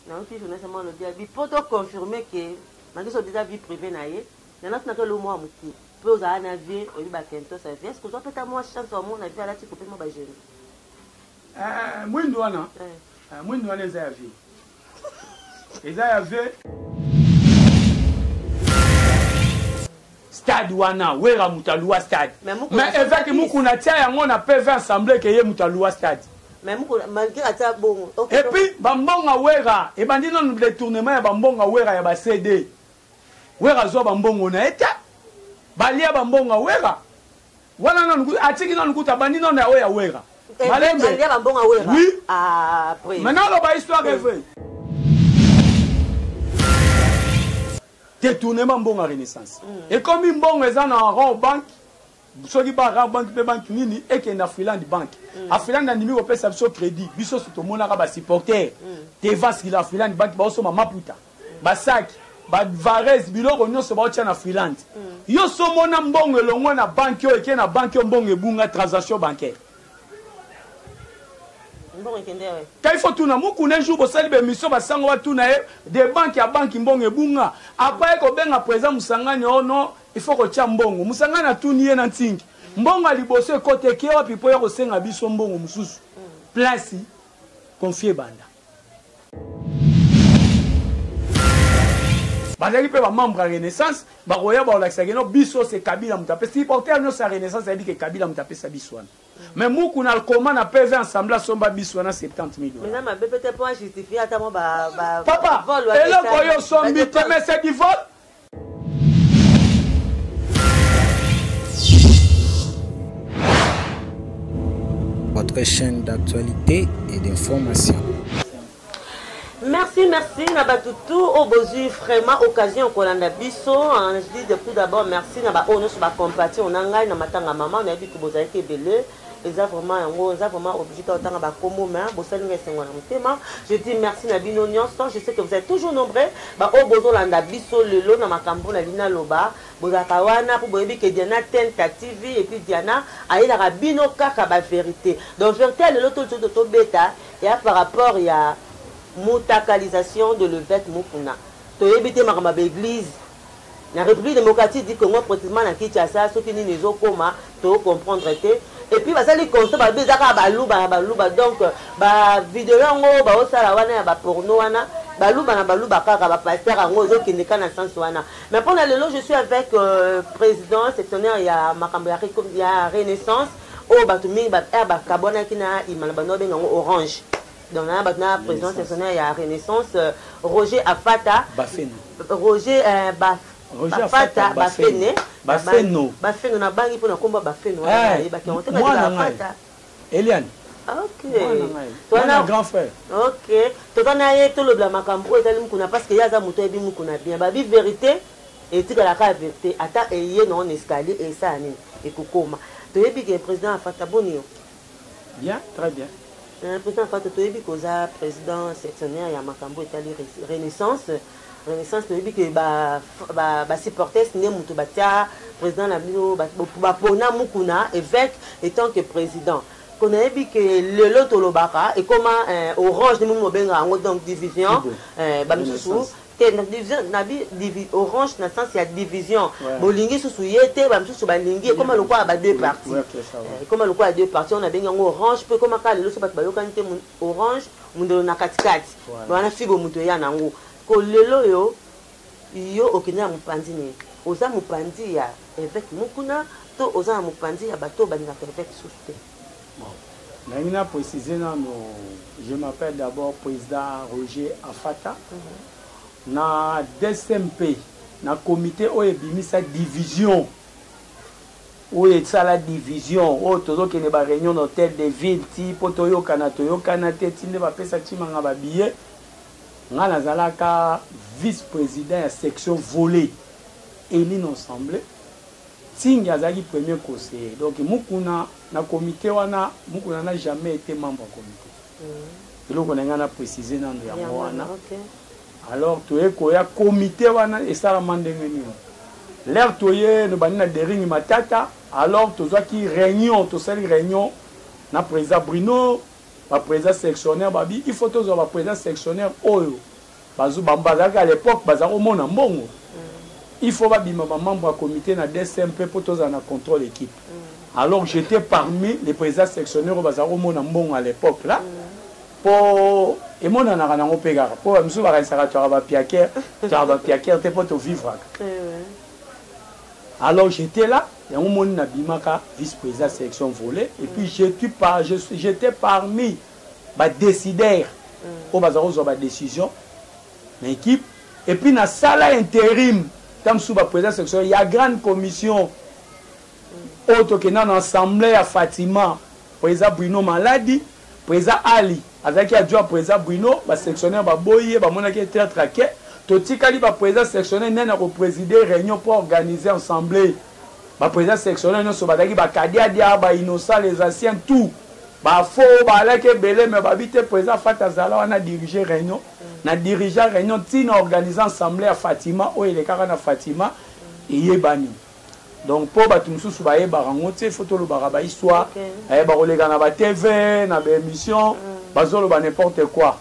nayoki journaliste mwa lobi ya bipo to confirme ke makiso eza vie privée na ye na natu na kelo mwa moke mpe ozala na vie oyebi bakentos ya vie eske ozwa mpeta mwa chance wamona vie alati kope mwa bajeune eh, mwindu wana eh. eh, mwindu wana eza ya vie eza ya vie stade wana wera moto aluwa stade mais eveke mukuna tia yango na pv ensemble ke ye moto aluwa stade epuis bambonga wera ebandi nano detournement ya bambonga wera ya bacd wera azwa bambongo na ye te balia bambonga wera wana nano atiki nano kuta abandi nano ya oyo ya wera eh, malembe oui ah, maintenant aloba histoire evre detournement mbongo renaissance ekomi mbongo eza na rond banque soki ba rare banque mpe banque nini ekende afriland banque mm. afriland andimi kopesa biso crédit biso so tomonaka basupporter mm. tevaskila afriland banque baosoma maputa mm. basaki bavarese biloko nyonso baotya na freelande mm. yo somona mbongo elongwe na banki oyo eke na banki oyo mbongo ebunga transaction bancaire kai fo tuna mukuna jour bosali bemission basango batuna ye de banki ya banki mbongo ebunga apa ye kobenga président mosangani o oh no il faut kotya mbongo mosangani atuni ye na ntingi mbongo ya liboso ekoteki ye wapi mpo ya kosenga biso mbongo mosusu place confie banda bazalaki mpe bamembre ya renaissance bakoya baolakisaki no biso se kabila moto apesa supporter nyonso ya renaissance ayebi ke kabila moto apesa biso wana mais muku na koma na pv ensemble asomba biso wana 70 millionpapa eloko oyo osombi te mais c'est du vol votre chaîne d'actualité et d'information. Merci, merci na batutu au bozu vraiment occasion kolanda biso hein, je dis depuis d'abord merci na ba oyo nyonso bacompati onangai na matanga mama nayebi ke bozalaki ebele eza vraiment yango eza vraiment obligé to otanga ba kombo mais bosali nga esengo na motema je dis merci na bino nyonso je sais que vous êtes toujours nombreux ba oyo bozolanda biso lelo na makambo na lina loba bozalaka wana mpo boyebi ke diana tenta tv epuis diana ayelaka bino kaka ba verité donc verité ya lelo tozoto tobeta ya par rapport ya mutakalisation de levete mukuna toyebi te makambo ya baeglise na Republique Democratique du Congo precisement na Kinshasa soki nini ezo koma to comprendre te et puis basali constat ba beza ka baluba na baluba donc ba video yango ba osala wana ya ba porno wana baluba na baluba kaka ba pasteur yango ezo kende ka na sens wana mais pona lelo je suis avec euh, président sectionnaire ya makambo ya, ya renaissance oyo bato mingi ba, eh, bakabwanaki na imana bando babenga yango orange donc na bato na présidence nationale ya renaissance euh, roger afata bafene roger euh, baf Roger Afata Afata Bafene Bafeno Bafeno na bangi pona komba Bafeno wana eh, yebaki on te na Afata Eliane ah, ok twana grand frère ok toza na ye tolobela makambo oyo etali mukuna parce que ye aza moto ayebi mukuna bien babi vérité etikala kaka vérité ata eye na on escalier esala nini ekokoma toyebi ke président afata boni yo Bien, très bien. Euh, président Fatou, toyebi koza président sectionnaire ya makambo etali renaissance renaissance toyebi ke basupportes nde moto batya président na bino bapona mukuna évêque etant que président ko nayebi ke lelo tolobaka ekoma euh, orange nde moni mobenga yango donc division euh, bamisusu te na division na bi divi orange na sens ya division Ouais. bolingi susu ye te ba misusu balingi ekoma lokola ba deux parties Ouais, c'est ça, ouais. Eh, ekoma lokola deux parties oyo nabengi yango orange mpo ekoma kaka lelo so bato bayokani te mon- orange mondelo na katikati Voilà. wana fibo moto eya na yango ko lelo oyo yo okende na mopanzi nini oza mopanzi ya evêque mokuna to oza na mopanzi ya bato oyo balingaka evêque susu te Nalingi na preciser nano je m'appelle d'abord president Roger Afata na DSMP na comité oyo ebimisa division oyo esala division oyo tozokende ba réunion na hôtel de ville ti mpo toyokana toyokana te ti nde bapesa Tshimanga ba billet ngai nazalaka vice-président ya section volet Eline Ensemble Tsingy azalaki premier conseiller donc Mukuna na comite wana Mukuna n'a jamais ete membre ya comite eloko nalinga na precise nanu yango wana alors toye koya comite wana esalama ndenge nini l'heure toye nobandi na dering matata alors tozwaki reunion tosali reunion na president Bruno ba president sectionnaire babi il faut tozwa ba president sectionnaire oyo Bazu bango bazalaki à l'epoque baza komona mbongo il faut babima ba membre ya comité na DSM mpe mpo tozala na contrôle équipe alors j'étais parmi les présidents sectionnaires oyo baza komona mbongo à l'epoque là mpo emonanaka nango mpe kaka mpo bamisusu bakanisaka toyaka bapiakere toyaka bapiakere te mpo tovivraka alors j'étais là yango moni nabimaka vice président sélection volet et puis j'étais parmi ba decidaires oyo baza kozwa ba decision na equipe et puis na sala interim ntango mosusu ba président section ya grande commission oyo tokenda na assemblée ya fatima président bruno maladi président ali azalaki adjoint président bruno basectionnaire baboyi ye bamonaki ye traitre ake totikali baprésident sectionnaire nani akopréside réunion mpo organise assemblée Ba present sectionnel nionso bazalaki ba kadiadia, ba innocent, les anciens, tout. Ba faux, ba alaki ebele mais babi te present fata azala wana diriger reunion. Na dirigea reunion ti na organiser ensemble ya Fatima oyo elekaka na Fatima eyebani. Donc po batu mususu bayebaka ngo te faut tolobaka ba histoire. Okay. Eh bakoleka na ba TV, na ba emission, mm. bazoloba n'importe quoi.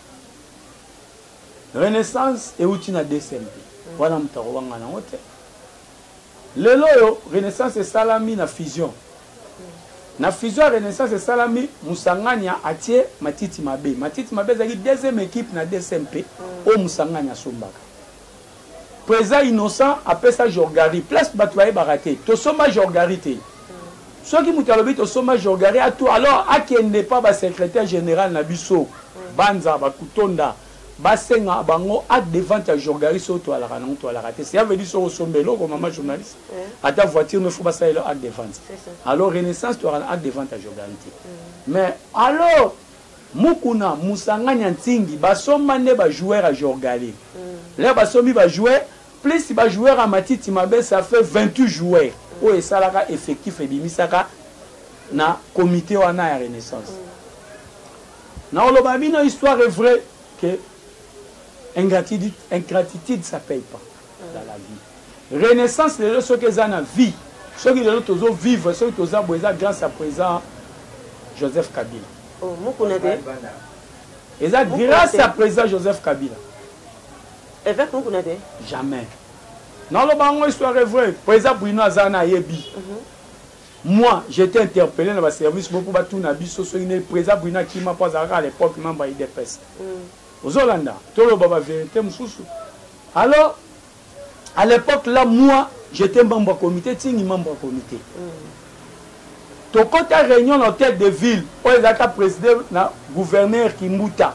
Renaissance euti na DCMP. Mm. Wana mutu akobanga nango te. Lelo oyo renaissance esalami na fusion. Na fusion ya renaissance esalami Musangania atie matiti mabe. Matiti mabe ezalaki deuxième equipe na DSMP oyo Musangania asombaka. President innocent apesa Jorgari place batu bayebaka te. Tosomba Jorgari te. Soki mutu alobi tosomba Jorgari atu alors akende pa ba secretaire general na biso. Banza, Bakutonda. basenga bango acte de vente ya jorgaris oyo toalaka nango toalaka te cela veut dire soki osomba eloko mama journaliste mm. ata voiture no faut basala elo acte de vente alors renaissance toalaka na acte de vente ya jorgaris te mm. mais alors mukuna musangani ya ntingi basomba nde bajoueur ya jorgali mm. leo basombi bajoueur plus bajoueur ya matiti mabe ça fait 28 joueur oyo esalaka effectif ebimisaka na comité wana ya renaissance Nao loba bino histoire est vrai que ingratitude, ingratitude ça paye pas dans la vie. Renaissance lelo soki eza na vie, soki lelo tozo vivre, soki toza bo eza grâce à présent Joseph Kabila. Oh, mukuna te. Eza grâce à présent Joseph Kabila. Évêque mukuna te. Jamais. Nao loba ngo histoire est vrai. Présent Bruno aza na yebi. Mm -hmm. Moi, j'ai ete interpelle na ba service bo po ba tuna biso soki nde President Bruno akima po azalaka à l'epoque membre ya udps. Ozo landa? Toloba ba verite mosusu. Alors, à l'epoque là, moi, j'étais membre ya comité, Tsingi membre ya comité. Tokota reunion na hôtel de ville oyo ezalaka preside na gouverneur Kimbuta.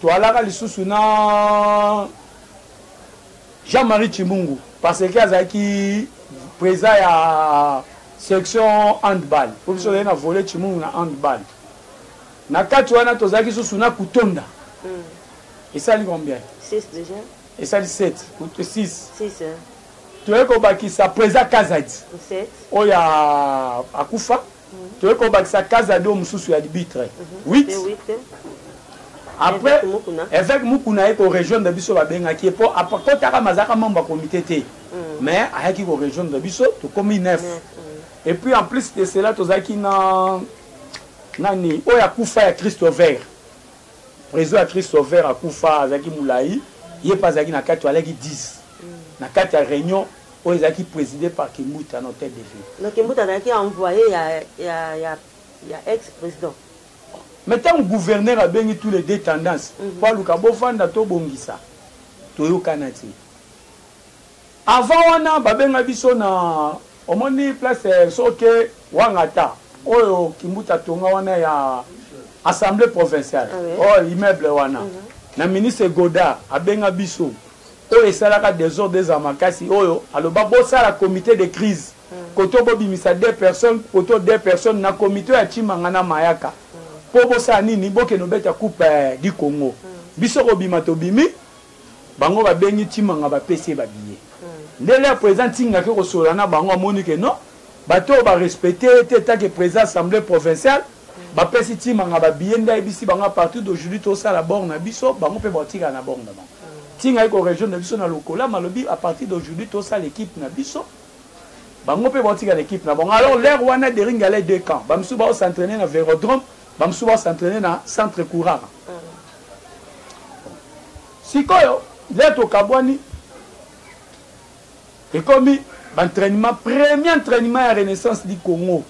Toalaka lisusu na Jean-Marie Chimungu parce que azalaki président ya section handball po biso tozali na volet Chimungu na handball na kati wana tozalaki lisusu na kutonda mm. esali combien esali 7 6 toyei kobakisa président kazadi oyo akufa toye kobakisa kazado mosusu ya libitre 8 après évêque mukuna aye korejoindre biso babengaki ye mpo akotaka mazalaka mambo ya komite te mm. mais ayaki korejoindre biso tokomi 9 et puis en plus de cela tozalaki na nani oyo akufa ya christo vert président ya christo vert akufa azalaki molai ye mpe azalaki na kati alaki 10 mm. na kati ya réunion Oyo ezalaki preside par Kimbuta na hotel de ville. Donc Kimbuta azalaki envoye ya ya ya ya ex president. Mais tango gouverneur abengi tous les deux tendances mm -hmm. po aluka bovanda to bongisa toyokana te. Avant wana babenga biso na omoni place eh, soke wangata oyo Kimbuta tonga wana ya assemblée provinciale ah, oui. oh immeuble wana mm -hmm. na ministre Godard abenga biso oyo esalaka desordre ezala makasi oyo aloba bosala comite de crise koto bobimisa deux personnes koto deux personnes na comite oyo ya tshimanga na mayaka po bosala nini bokende obeta coupe du congo biso kobima tobimi bango babengi tshimanga bapesi ye ba billet nde lea president ntinga ake kosolola na bango amoni ke non bato oyo barespecte ye te tanke president assemble provinciale Ba pesi tima nga ba billet nde ayebisi bango a partir d'aujourd'hui to sala bord na biso bango pe ba tika na bord na bango. Tinga ye ko rejoindre na biso na lokolama alobi a partir d'aujourd'hui to sala equipe na biso bango pe ba tika na equipe na bango. Alors l'heure wana Dering allait deux camps ba misusu ba s'entraîner na Vérodrome ba misusu ba s'entraîner na centre Kourara. Sikoyo leo tokabwani Ekomi ba entrainement premier entrainement ya renaissance du Congo.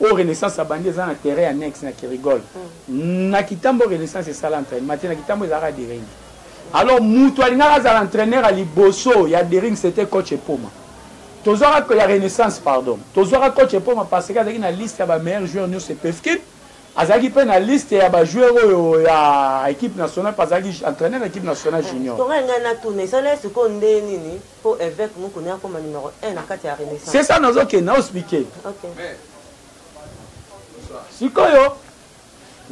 Oyo renaissance abandi eza na terrain ya Nex na Kirigol. Mm. Na Kitambo renaissance esala entrainement te na Kitambo ezalaka Dering. Alors mutu alingaka azala entraîneur ya liboso ya Dering c'était coach Epoma. Tozwaka ya renaissance pardon. Tozwaka coach Epoma parce que azalaki na liste ya ba meilleurs joueurs nionso epefkin. Azalaki mpe na liste ya ba joueurs oyo ya equipe nationale mpe azalaki entraîneur ya equipe nationale eh, junior. Tonga ngai na tuna esala sikoyo nde nini mpo Evêque Mukuni akoma numero 1 na kati ya Renaissance. C'est ça nazo kende na expliquer. Okay. Sikoyo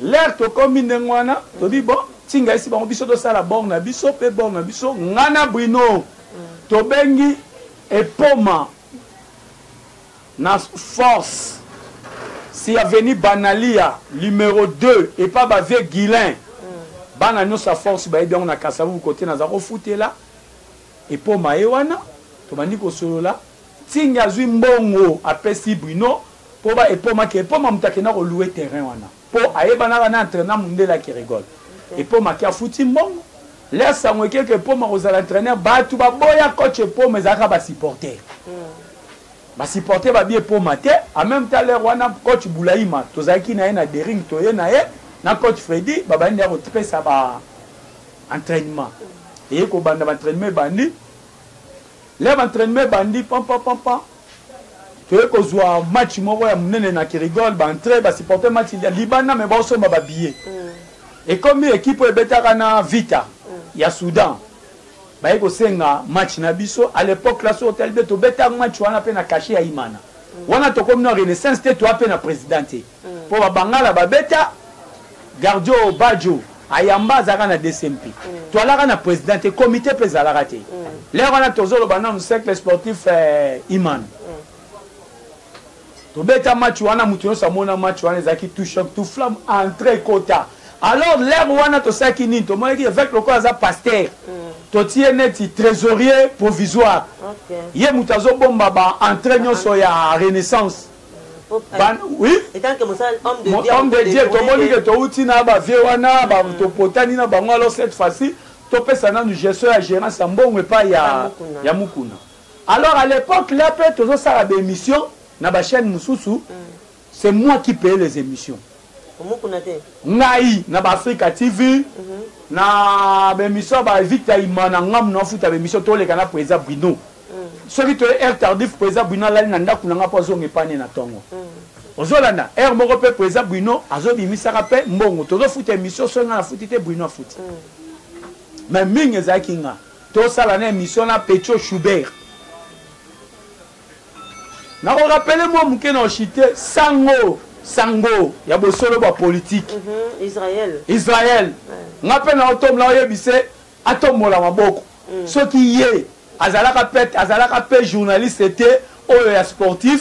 l'air tokomi ndenge wana tobi bon tinga esi bango biso tosala bor na biso mpe bor na biso ngai na Bruno mm. tobengi epoma Na force si avenue banalia numero deux epa ba vieux Guilain bana nionso ya force bayebi yango na kasa vubu cote naza kofutela epoma ye wana tobandi kosolola Nsingi azui mbongo apesi Bruno po ba epoma ke epoma moto akenda ko louer terrain wana po ayebanaka na entrainant mundele ya Kerigol epoma ke afuti mbongo l'heure sango eke ke epoma akozala entraineur batu baboya coach epoma ezalaka ba supporter Ba supporter ba bie poma te en meme temps l'heure wana coach Bulaima tozalaki na ye na Dering toye na ye na coach Freddy babandi ya kotipesa ba entraînement eye kobanda ba entraînement ebandi l'heure ba entraînement ebandi pam pam pam pam toye kozwa match moko ya monene na Kirigol ba entrée ba supporter match ya libanda mais baosomba ba billets mm. ekomi ekipe oyo ebetaka na Vita mm. ya Soudan baye kosenga match na biso à l'epoque la sur telbe tobetaka match wana pe na cachet ya imana wana tokomi na renaissance te toa pe na président te mpo mm. babangala babeta gardio bajo ayamba azalaka na dcmp mm. toalaka na président te comité mpe ezalaka te mm. lere wana tozoloba nanu cercle sportif eh, imana tobeta match wana moto nyonso amona match wana ezalaki tout choc tout flamme entre ekota alors l'heure wana tosalaki nini tomonaki évêque lokola aza pasteur mm. totie neti trésorier provisoire okay. ye moto azobomba ba entrée ah, nyonso ah. ya renaissance mm, oui homme de dieu tomoni ke touti na bavie wana mm. topotani na bango alors cette fois-ci topesa nanu gestion ya gérance ya mbongo epai ya mukuna Alors à l'epoque là pe tozo sala ba emission na ba chaîne mususu mm. c'est moi qui paye les émissions. Omukuna te. Ngai na ba Africa TV mm -hmm. na ba émission ba Victor Imana ngam na futa ba émission to leka na Preza Bruno. Mm. Soki to heure tardif Preza Bruno lali na ndaku na nga po zonga epane na tongo. Mm. ozolanda heure moko mpe président bruno azobimisaka mpe mbongo tozofuta émission soki nga nafuti te bruno afuti mm. mais mingi ezalaki nga Tosala na emission na Pecho Schubert. Nako rappeler mwa moke na Oshite sango sango ya bosolo bwa politique. Mm -hmm. Israël. Israël. Ouais. Nga pe na otom na oyebise atombola maboko. Mm. Soki ye azalaka pe azalaka pe journaliste te oyo ya sportif.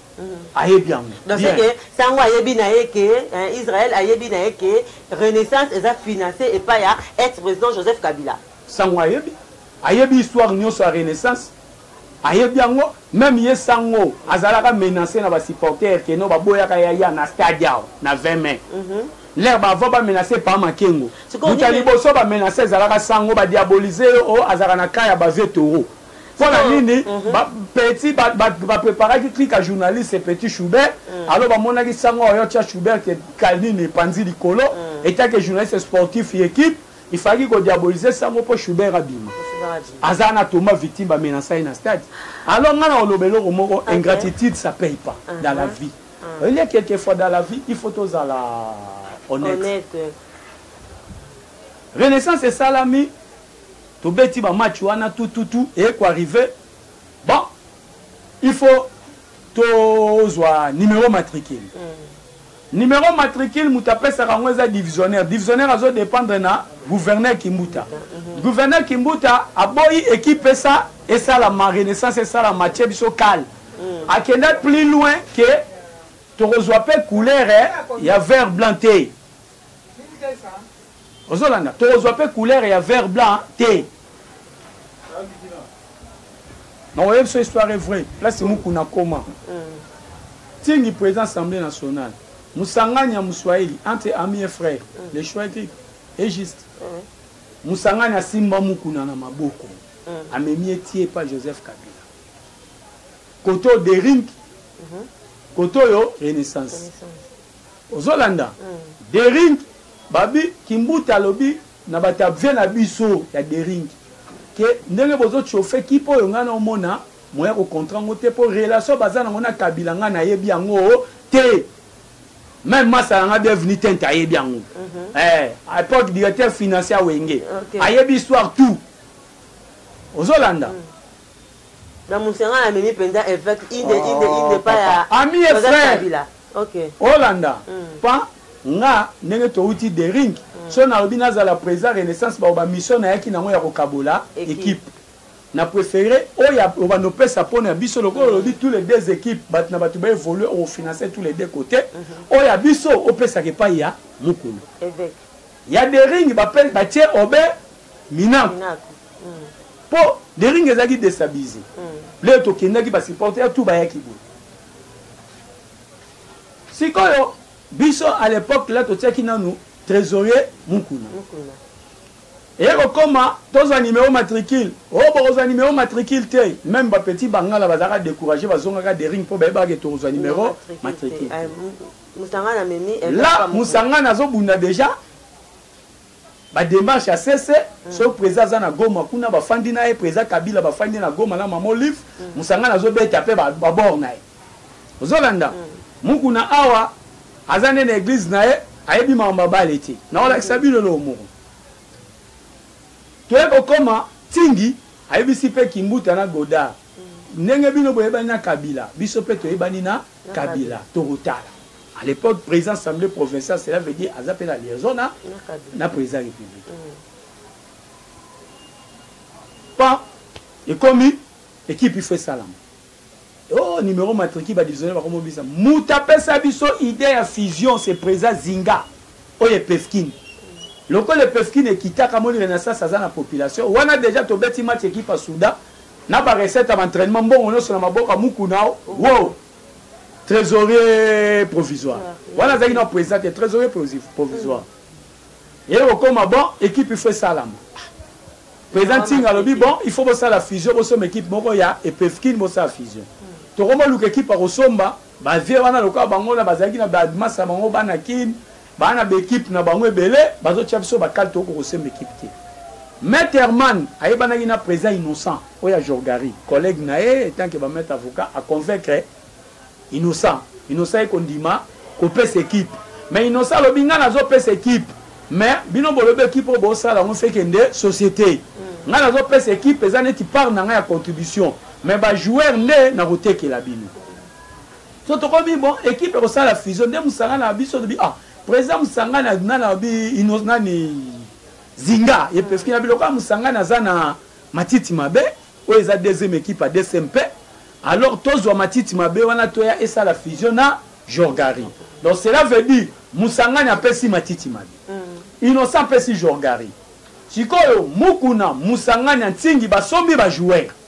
ayebi yango donseke sango ayebi na ye ke eh, israel ayebi na ye ke renaissance eza finance epai ya ex président joseph kabila sango ayebi ayebi histoire nyonso ya renaissance ayebi yango meme ye sango azalaka menace na basupporter keno baboyaka yaya na stade yao na 20 mai mm -hmm. lere bava bamenase pa makengo buta liboso bamenase ezalaka sango badiabolise yo o oh, azalaka na ka ya bavie toro mpo na nini petit bapreparaki clique ya journaliste petit choubert mm. alors bamonaki sango oyo tia choubert ke kalini epanzi likolo mm. etake journaliste sportif ya équipe ifalaki kodiabolise sango mpo choubert abima aza na toma victime bamenasa ye na stade alors ngai na oloba eloko moko ingratitude ça paye pas uh-huh. dans la vie uh-huh. oyelie quelquefois dans la vie il faut tozala honnête renaissance esalami tobeti ba match wana tout tout tout et ko arriver bon il faut tozwa numéro matricule mm. numéro matricule moto apesaka yango eza divisionnaire divisionnaire azo dépendre na gouverneur kimbuta mm -hmm. gouverneur kimbuta aboyi équipe esa esalama renaissance esalama tie biso kale mm. akenda plus loin ke tokozwa mpe couleur eh, ya vert blanc te ozolanda tokozwa mpe couleur ya vert blanc te nakoyebi biso histoire est vrai place mukuna koma tingi président assemblée nationale mosangani ya moswahili entre ami et frère le choix était est juste mosangani asimba mukuna na maboko amemi etie epa joseph kabila koto dering koto oyo renaissance Ozolanda? Dering babi kimbuta alobi na ba tabze na biso ya dering ke ndenge bozo chauffe equipe oyo ngai nao mona moyen yako contra ngo te po relation baza nango na kabila ngai na yebi yango te meme masta na ngai bienvenue tente ayebi yango eh a epoque directeur financier ya wenge ayebi histoire tout ozolanda na musanga na memi penza evêque inde oh, inde inde pa ya ami et frère okay olanda mm. pa nga ndenge towuti de ring mm. so nalobi nazala président renaissance bao bamisio nayaki nango ya kokabola équipe na préféré oyo obanda opesa mpona ya biso lokola mm. olobi tous les deux équipes bato na bato baévolue ofinance tous les deux côté mm-hmm. oyo ya biso opesaka epai ya mokolo Ya dering ba pe ba tie obe minaku. Minaku. Mm. Po dering ezaki destabiliser. Mm. Leo to kendaki ba supporter ya tout ba yaki boye. Sikoyo biso à l'époque là to tiaki nanu trésorier mukuna. Mukuna. eye kokoma tozwa nimero matricule o oh, bokozwa nimero matricule te meme bapetit bangala bazalaka décourage bazongaka dering mpo bayebaka ke tokozwa nimero matricule Musangana amemi un Là, papa moko. Musangana azobunda deja ba demarche ya sese soki president aza na goma kuna bafandi na ye president kabila bafandi na goma na mama olive musangana azobeta mpe ba- babor na ye ozolanda mukuna awa aza nde na eglise na ye ayebi makambo abale te naolakisa bino eloko moko toye kokoma tingi ayebisi mpe kimbuta na godard ndenge bino boyebani na kabila biso mpe toyebani na kabila tokotala à l'époque président assemblée provinciale cela veut dire aza mpe na liaison na, na président république mm. pa ekomi ekipe ifo esalama oh numéro matriki badivisionne bakomobisa moto apesa biso idée ya fusion c'est président zinga oyo epefkine lokola epefkine ekitaka moni renaissance aza na population wana déjà tobeti match ekipe ya souda na ba recette ya ba entraînement mbongo nyonso na maboko ya mukuna wow trésorier provisoire wana azalaki na président te trésorier provisoire ye kokoma bon équipe ifo esalama président ntinga alobi bon il faut bosala fusion bosomba équipe moko ya epefkine bosala fusion tokoma luka équipe akosomba bavie wana lokola bango na bazalaki na bamasa bango bana kine Ba na b'equipe na bango ebele bazo tia biso ba cale toko kosemba equipe te. Maitre Herman ayebanaki na president Innocent oyo ya Jorgari collègue na ye etant que ba maitre avocat a convaincre Innocent. Innocent aye kondima kopesa equipe mais Innocent alobi nga nazo pesa equipe mais bino bolobi equipe oyo bosala yango feke nde societe nga nazo pesa equipe eza neti part na nga ya contribution mais ba joueur nde nakotekela bino. So tokomi bon equipe ekosala fusion nde musanga na biso tobi ah president musanga na na na bi inos nani zinga ye parce que na biloko ya musanga na za na matiti mabe oyo eza deuxième équipe à DCMP alors tozwa matiti mabe wana toya esala fusion na jorgari donc cela veut dire musangani apesi matiti mabe mm. innocent apesi jorgari sikoyo mukuna musangani ya ntingi basombi bajoueur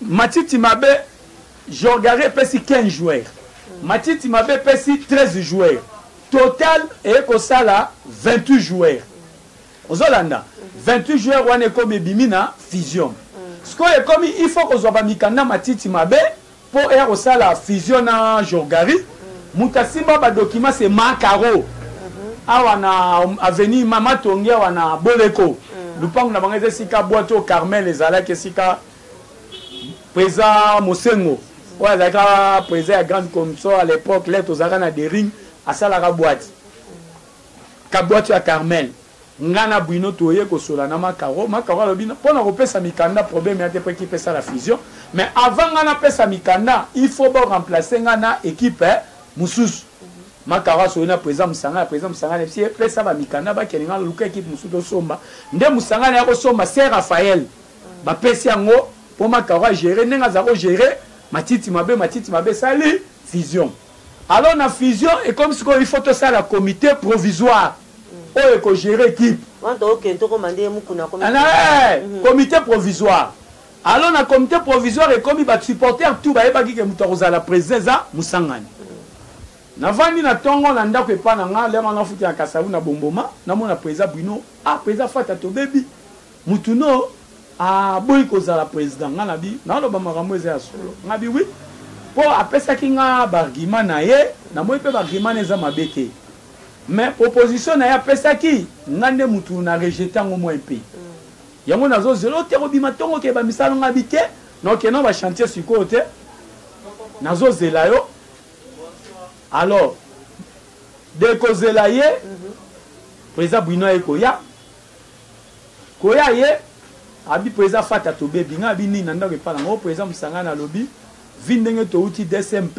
Matiti mabe Jorgari epesi 15 joueurs. Matiti mabe epesi 13 joueurs. Total eye kosala 28 joueurs. Ozolanda 28 joueurs wana ekomi ebimi na fusion. Sikoyo ekomi il faut kozwa ba mikanda matiti mabe mpo eya kosala fusion na Jorgari. Moto asimba ba documents c'est Makaro. Awa na avenue Mama Tongi awa na Boleko. Lupango na bango eza esika Bwato Carmel ezalaki esika président mosengo oyo azalaka président ya grande commission à l'époque le tozalaka na dering asalaka bwati kabwati ya carmel nga na bwino toye kosola na makaro makaro alobi mpo na kopesa mikanda problème ya te mpo ekipe esala fusion mais avant nga napesa mikanda il faut boremplace nga na équipe eh, mosusu makaro asoki na président mosangani président mosangani epesi epesa bamikanda bakende nga luka équipe mosusu tosomba nde mosangani ya kosomba se raphael bapesi yango mpo makaro agere ndenge aza kogere matiti mabe matiti mabe esali fusion alors na fusion ekomi sikoyo il faut tosala comité provisoire oyo ekogere ekipe comité provisoire alors na comité provisoire ekomi basupporter tout bayebaki ke moto akozala président eza mosangani navandi na ntongo na ndako epai na ngai lere wana afuti na kasavu na bomboma namona président bruno ah président fata tobebi Mutu no a boyi ko zala president nga na bi na loba makambo eza ya solo nga bi oui po a pesaki nga ba argument na ye na moni pe ba argument na ye eza mabe te mais proposition na ye a pesaki nga nde mutu na rejete yango moi mpe yango na zo zela ote ko bima tongo ke ba misala nga bi te na oke na ba chantier sikoyo te na zo zela yo alors de ko zela ye mhm. president bwino aye koya koya ye abi preza fata tobebi nga abi nini na ndako epa nango preza musangana alobi vi ndenge towuti dsmp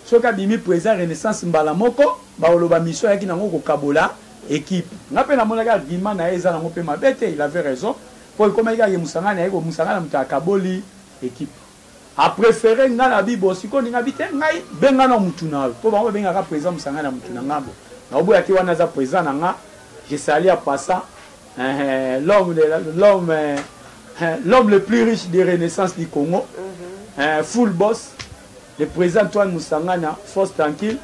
soki abimi preza renaissance mbala moko bakoloba mission ayaki nango kokabola equipe nga pe namonaki argument naye eza nango pe mabe te il avait raison po ekomaki kaka ke musangana aye ko musangana mutu akaboli equipe a prefere nga na bibo siko olinga bi te ngai benga na mutu na yo po bango babengaka president mosanga na mutu na ngambo naoboya te wana aza president na nga je sali a passa eh, l'homme l'homme eh, l'homme le plus riche de renaissance du congo mhm. eh, full boss le président antoine mosangana force tranquille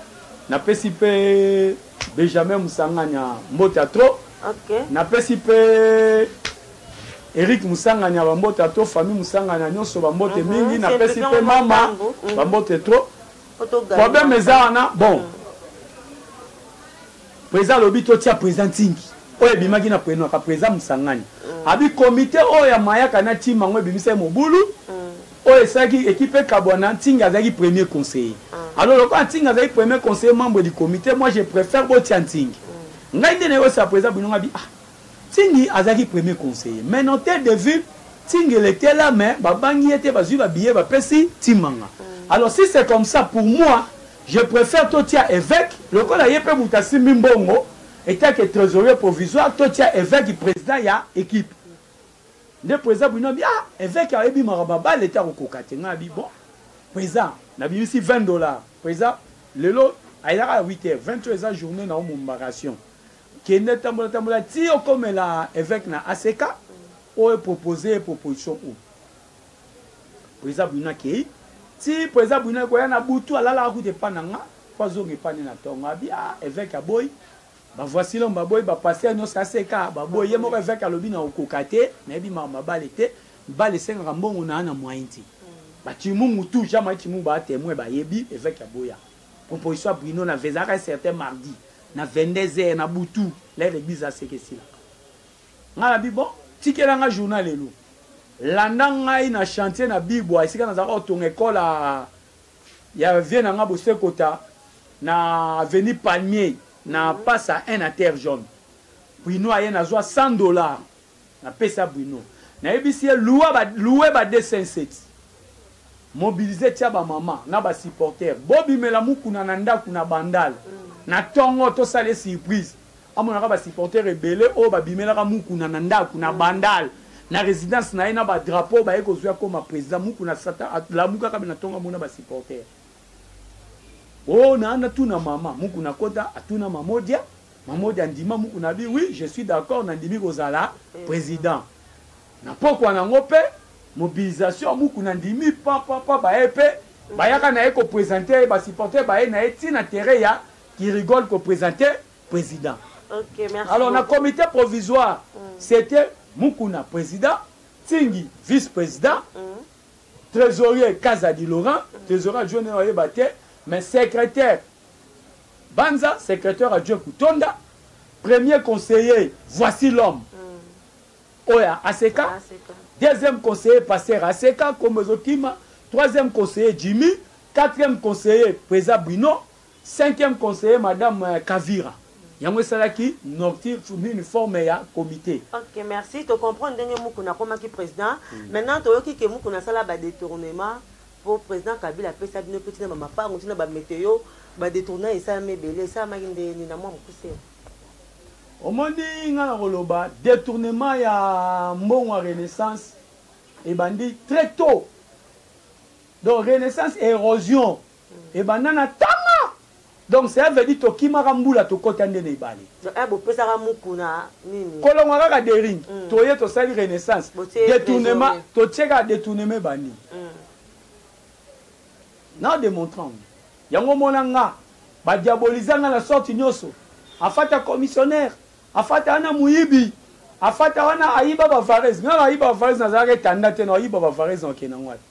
napesi mpe benjamin mosangana mbota trop okay. napesi mpe Eric Musangani ya bambote ato famille Musangani ya nyonso bambote mhm. mingi na pesi pe mama mhm. bambote trop problème eza wana bon mhm. président alobi totia président ntingi oyo ebimaki na prenaka président Musangani abi comité oyo ya mayaka na ntima yango ebimisaki mobulu oyo esalaki ekipe ekabwana ntingi azalaki premier conseiller ah. alors lokola ntingi azalaki premier conseiller membre du comité moi je préfère botia ntingi ngai nde nayosa président binonga bi ah Cindy azalaki premier conseiller mais non tete de ville Cindy elle etait là mais babangi ye te bazui ba billet bapesi Timanga alors si c'est comme ça pour moi je prefère totia eveque lokola ye pe mutu asimbi mbongo etake tresorier provisoire totia eveque president ya equipe nde president bwino abi ah eveque ayebi maka babale te akokoka te ngai abi bon president nabimisi 20 dollars president lelo ayelaka ya 8 heures 20 heures eza journée na omombakation Kende tambola tambola ti okomela eveque na ACK o proposer ye proposition oyo. President Bwina akeyi ti president Bwina ekoya na butu alalaka kutu epa na nga po azonga epa ne na tongo abi ah eveque aboyi ba voici l'homme baboyi ba pasteur nionso ya ACK baboyi ye moko eveque alobi na okoka te nayebi mawa ma bale te bale esengaka mbongo naa na moyen te ba Tshimungu tout Jean Marie Tshimungu ba temoin bayebi eveque aboya composition ya bruno na ezalaka un certain mardi na 22 heures na butu lere eglise aseke esilaka ngai na bibo tikela ngai journal lelo landa ngai na chantier na bibwa esika nazalaka kotonga ekole ya vie na ngai bosekota na avenue palmier na pasa 1 na terre jaune bruno aye nazwa 100 dollars Na pesa Bruno na yebisi ye loua ba loue ba deux cent sept mobilise tia ba maman na ba supporter bo bimela mukuna na ndaku na bandal na tongo to sala ye surprise amonaka ba supporter ebele oyo ba bimelaka mukuna na ndaku na bandal na residence na ye na ba drapeau ba ye ko zui akoma president mukuna sata lamuka kabe na tongo amona ba supporter oh na na tuna maman mukuna kota atuna mamodia Mamodi andima mukuna bi oui je suis d'accord na ndimi kozala president na pokwa na ngo pe mobilisation ya mukuna ndimi pa pa pa baye pe bayaka na ye ko presenter ye ba supporter baye na ye ti na terrain ya ki rigole ko presenter president okay, merci alors beaucoup. na comité provisoire mm. c'était mukuna president tingi vice president mm. trésorier kazadi laurent mm. trésorier adjoint na ye oyeba te mais secrétaire Banza secretaire ya Joe Kutonda, premier conseiller voici l'homme hmm. oyo ya ACK, deuxième conseiller pasteur ACK kombo ezokima, troisième conseiller Jimmy, quatrième conseiller Pweza Bruno, cinquième conseiller madame euh, Kavira. yango esalaki nortir nini forme ya comité ok merci tocomprendre ndenge mukuna akomaki président hmm. maintenant toyoki ke mukuna asala badetournement Po president Kabila apesa bino pe ti na ba mapangu ti na ba meteo ba detournement esalama ebele esalamaki ndenge nini na mua mukuse? Omoni nga na koloba detournement ya mbongo ya renaissance ebandi tres tot donc renaissance erosion ebanda na tanga Donc cela veut dire tokimaka mbula tokota nde na ebale. Eh bopesaka mukuna nini? Kolongwa kaka dering mm. toye tosali renaissance detournement totie kaka detournement ebandi mm. na demontrant yango mona nga badiabolisa nga na sorte nyonso afata commissionnaire afata wana moyibi afata wana ayiba bavarese nga ayiba bavarese nazalaka etanda te na ayiba bavarese na okende yango wapi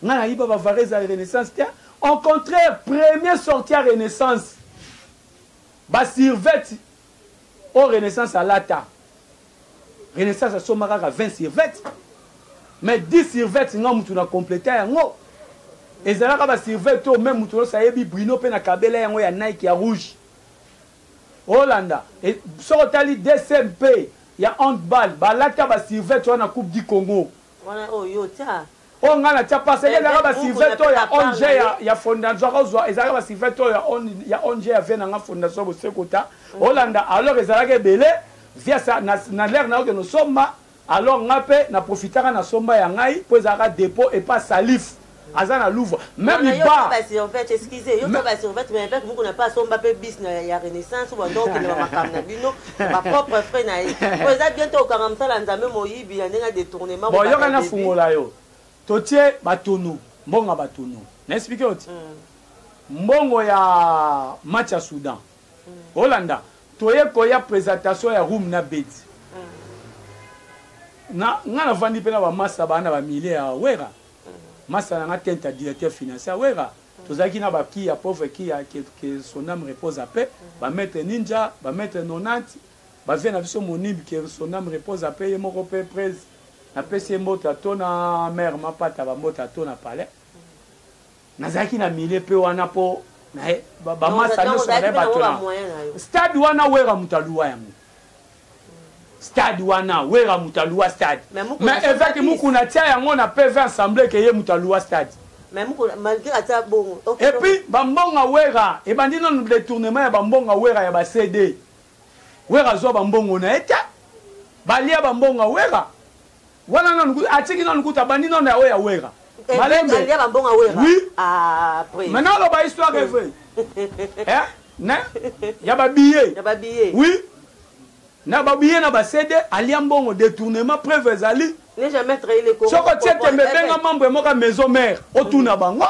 Nga na yiba ba varese ya renaissance te en contraire premier sorti ya renaissance ba survete oyo renaissance alata renaissance asomba kaka 20 survete mais 10 survete nga mutu na completa yango ezalaka ba survete oyo meme mutu nyonso ayebi bruno mpe na kabela yango ya nike ya rouge olanda e, soki otali dcmp ya handball balata ba survete wana coupe du congo Wana oyo yo tia. Oyo nga na tia parce que ezalaka ba sivet to ya ONG ya ya fondation ko zwa ezalaka ba sivet to ya on ya ONG ya vie na nga fondation boseko ta. Mm. Olanda alors ezalaka ebele via sa na na l'air na oke no somba alors nga pe na profitaka na somba ya ngai po ezalaka depot et pas salif. aza na louvre meme iba ba servette excusez yo ba servette mais avec muku na pas somba pe bis na ya renaissance ou donc le makam na bino ba propre frais na ye ko eza bien to kanga msala nzambe moyibi ya ndenge détournement bon yo kana fungola yo to tie batono mbonga batono na expliquer oti mm. mbongo ya match ya Soudan mm. Olanda toye koya présentation ya room na bedi mm. na nga na vandi pe na ba massa ba na ba milieu ya wera masta na nga tenta directeur financier ya werra tozalaki na ba kiya pauvre kiya que, que son ame repose à paix ba maitre ninja ba maitre 90 ba vieux na biso monib que son ame repose à paix ye moko pe prez napesi ye mbote ato na mère mapata ba mbote ato na palais nazalaki na milieu mpe wana mpo bamasa nyonso bazali bato na stade wana wera moto aluwa yango stade wana wera moto aluwa stade mais eveke mokuna atia yango na pv ensemble ke ye moto aluwa stade epuis bambonga wera ebandi nano détournement ya bambonga wera ya bacd wera azwa bambongo na ye te balia bambonga wera Wana nanu kutu atiki nanu kutu abandi nanu ya oyo ya Werra. Eh, Malembe. Ndia ba mbonga Werra. Oui. Ah, après. Maintenant alo ba histoire est vraie. Hein? Ne? Ya ba billets. Ya ba billets. Oui. Na ba billets na ba CD alia mbongo détournement preuve ezali. Ne jamais trahi les Congo. Soko tie tembe eh, benga eh. membre moka maison mère otuna mm. bango.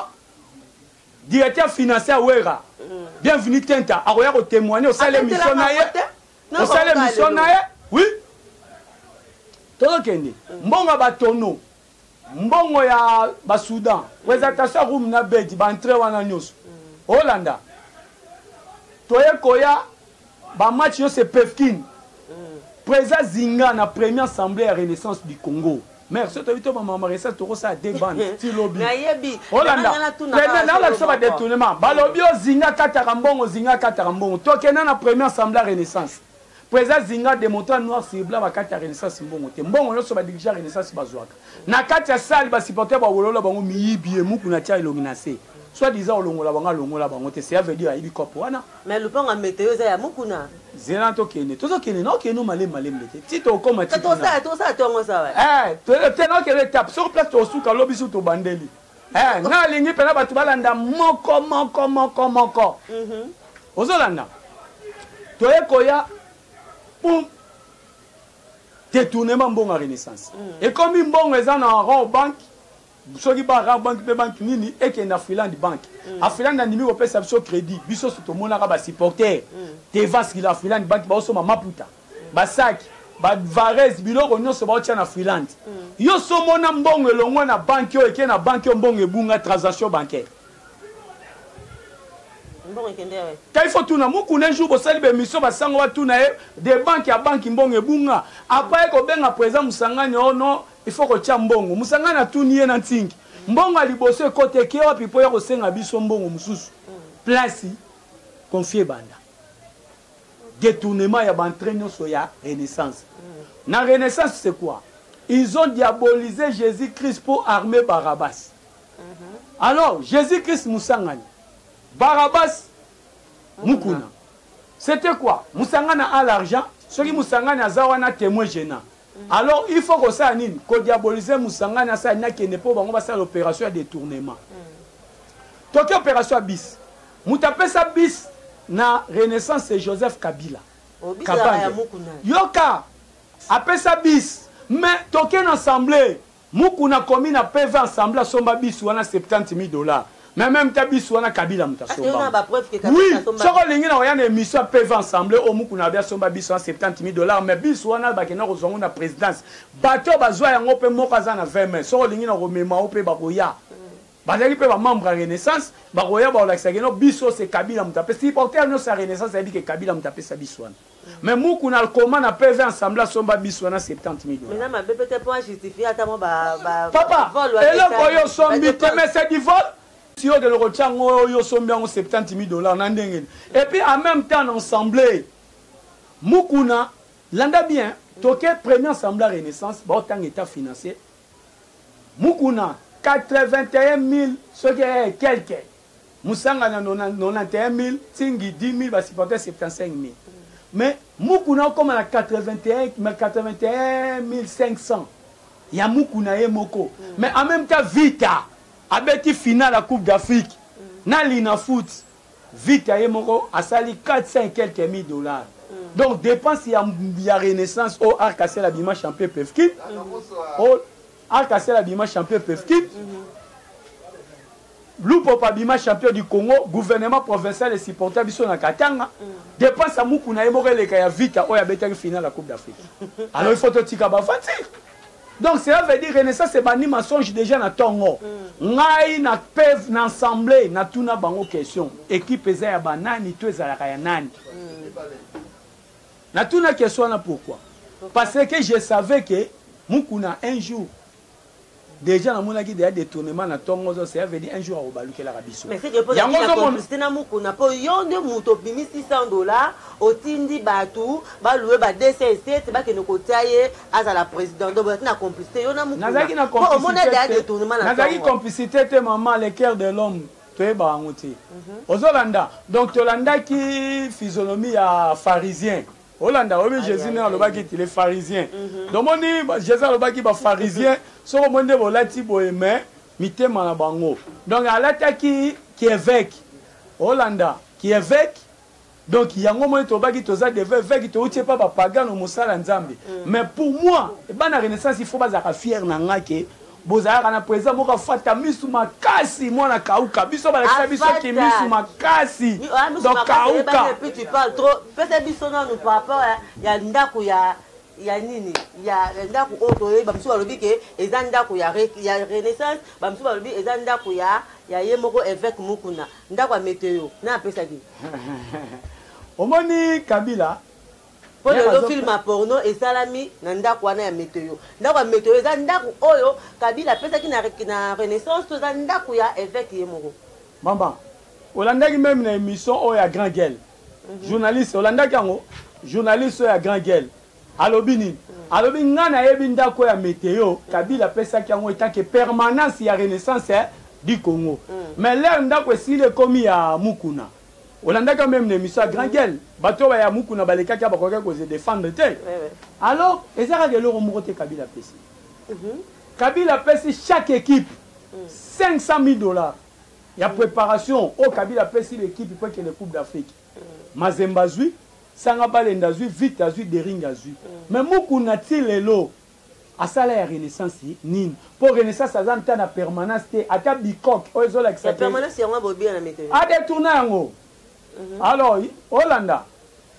Directeur financier Werra. Mm. Bienvenue Tenta akoya ko témoigner osala émission na ye. osala emission na ye oui tozokende mbongo ya batono mbongo ya basudan présentation ya roum na bedi baentre wana nyonso olanda toye koya bamatch nyonso epefkine présent zinga na premier assemblée ya renaissance du congo mère soki toyebi to mama maresa tokosala de bande eh, ti lobi olandaolakisa badetournement balobi ozinga kataka mbongo ozinga kataka mbongo tokenda na premier assemble ya renaissance président zinga demonta noir sirbla bakati ya renaissance mbongo te mbongo nyonso badirige ya renaissance bazwaka na kati ya sale basupporter bawolola bango miyibi emuku na tia elongi na se soit disant olongola bango alongola bango te seya veut dire ayibi kopo wana Mais lupango ya meteo eza ya mukuna. Zela tokende, tozokende na okende malem malem ndete. Ti tokoma ti. Tosala tosala tongo sawa. Eh, tele te na okende tape sur place tosuka lobi su tobandeli. Eh, nga alingi pena batu balanda moko moko moko moko. Mhm. Ozolanda. Toye koya pum détournement mbongo ya renaissance mm. ekomi mbongo eza na rond banque soki ba rare bank mpe banki nini ekende na freeland bank mm. afreeland andimi kopesa biso crédit biso so tomonaka basupporter mm. tevaski la freeland bank baosomba maputa mm. basaki bavares biloko nyonso baotya na freeland mm. yo so omona mbongo elongwa na banki oyo eke na banki oyo mbongo ebunga transaction bancaire kai fo tuna mokuna un jour bosali bemission basango batuna ye de banke ya banki mbongo ebunga apa ye kobenga président mosangani ono oh Il faut kotia mbongo. Musangani atuni ye na ntingi. Mbongo ya liboso ekota eke wapi mpo ya kosenga biso mbongo mosusu. Place confie ebanda. Detournement ya bantre nyonso ya Renaissance. Na Renaissance c'est quoi? Ils ont diabolisé Jésus-Christ mpo armé Barabbas. Alors Jésus-Christ Musangani, Barabbas Mukuna. C'était quoi? Musangana a l'argent, soki Musangani aza wana témoin gênant. alors il faut kosala nini kodiabolize mosangani asala nini akende mpo bango basala opération ya détournement toki opération ya bis moto apesa bis na renaissance ya joseph kabila oh, kabange yoka apesa bis mais toke na assemblée Mukuna akomi na PV en semblant asomba bus wana 70 mille dollars mais meme te bus wana Kabila moto asomba. Oui, soki olingi na oya na emission ya PV en semblant oyo Mukuna abi asomba bus wana 70 mille dollars mais bus wana bakenda kozwa ngo na presidence. Bato bazwa yango pe moko aza na 20 mai soki olingi na komema yo pe bakoya. Bazalaki pe ba membre ya Renaissance bakoya bakolakisa ke non bus oyo c'est Kabila moto apesa. Supporter nionso ya Renaissance ayebi ke Kabila moto apesa bus wana. mais muku na koma na pv ensemble asomba biso wana 70 millions mais na mabe peut-être pour justifier ata mo ba ba papa eloko yo sombi te mais c'est du vol si yo keloko tiango yo sombi yango 70 000 dollars na ndenge et puis en même temps na ensemble mukuna landa bien toke premier ensemble à renaissance ba otanga état financier mukuna 81 000 soki quelque Musanga na 91000, Tsingi 10000, ba supporters 75000. Mais Mukuna okoma na 81500 ya Mukuna ye moko. Mais en même temps Vita abeti finale ya Coupe d'Afrique na Linafoot. Vita ye moko asali 400 et quelques mille dollars. Donc dépense ya, ya Renaissance au Arc à Ciel abima champion Pefkin. Au Arc à Ciel abima champion Pefkin. Lupopo abima champion du Congo, gouvernement provincial e supporta biso na Katanga. Depense ya muku na ye moko eleka ya Vita oyo abetaki finale ya Coupe d'Afrique. Alors il faut totika ba aventure. Donc cela veut dire Renaissance ebandi mensonge déjà na tongo. Ngai na PEV na ensemble na tuna bango question. Equipe eza ya ba nani to ezalaka ya nani? Na tuna question wana pourquoi? Parce que je savais que Mukuna un jour deja namonaki deja détournement na ntongo ozo cela veut dire un jour akobalukelaka biso yango ozomoniste na mokuna mpo yo nde moto obimi 600 dollar otindi bato baloue ba 207 bakende kotia ye azala président donc bozalaki na complicité yo na mokunazalaki na complicité complicité te maman le cœur de l'homme toyebaka yango te mhm. ozolanda donc tolandaki physionomie ya pharisien olanda oyebi jésus nde alobaki ti le pharisien mhm. domoni jésus alobaki bapharisien soki omoni nde bolati boye me mitema na bango donc alataki kieveke olanda kieveke donc yango moi tobaki toza deve eveke touti epa bapagano mosala nzambe mais mhm. pour moi ebana renaissance il faut bazalaka fiere na nga ke Bozalaka na president moko afata misu makasi mwana kauka biso balakisa biso ki misu makasi donc kauka puis tu parles trop pesa biso nanu par rapport ya ndako ya ya nini ya ndako oyo toyebi bamosusu balobi ke eza ndako ya renaissance bamosusu balobi eza ndako ya ya ye moko evêque mukuna ndako ya meteo na apesaki omoni kabila mpo lelo film ya porno esalami na ndako wana ya meteo ndako ya meteo eza ndako oyo kabila apesaki na renaissance to eza ndako ya eveke ye moko mama olandaki meme na émission oyo ya grand guel mhm. journaliste olandaki yango journaliste oyo ya grand guel alobi nini mhm. alobi ngai nayebi ndako ya meteo kabila apesaki yango etake permanence ya renaissance eh, du congo mhm. mais lere ndako esili ekomi ya mukuna Olandaka meme na emission ya grand gueule bato oyo baya mukuna balekaki awa bakokaki ko se defendre te alors eza kaka eloko moko te kabila apesi mhm. kabila apesi chaque équipe 500 000 dollars ya préparation oyo kabila apesi l'équipe mpo ekende coupe d'afrique mazemba azwi sanga balenda azwi vite azwi dering azwi mais mukuna ti lelo Asala ya renaissance nini? Po renaissance aza ata na permanence te ata bicoque oyo ezolakisa que. Ya permanence yango abobia na meko. A detourna yango. Alors olanda.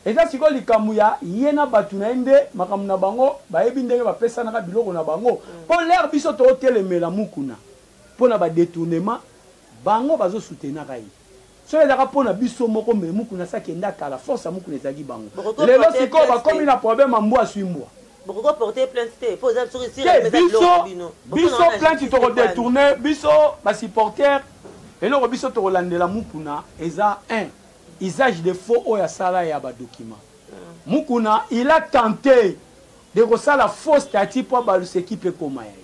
Eza sikoyo likambo ya ye na batu na ye nde makambo na bango bayebi ndenge bapesanaka biloko na bango po l'heure biso totelemela Mukuna pona ba detournement bango bazo soutenaka ye. Soki ezalaka mpo na biso moko mais mukuna asi akenda kala force ya mukuna ezalaki bango lelo sikoyo bakomi na problème ya mbwa aswi mbwa bokoki porter plainte te mpo eza soki esili eza biloko na bino biso plainte toko detourner biso ba supporters eloko biso tokolandela mukuna eza un usage de faux oyo asala ya ba documents hmm. mukuna il a tenté de kosala faux statut mpo abalusa ekipe ekoma ya ye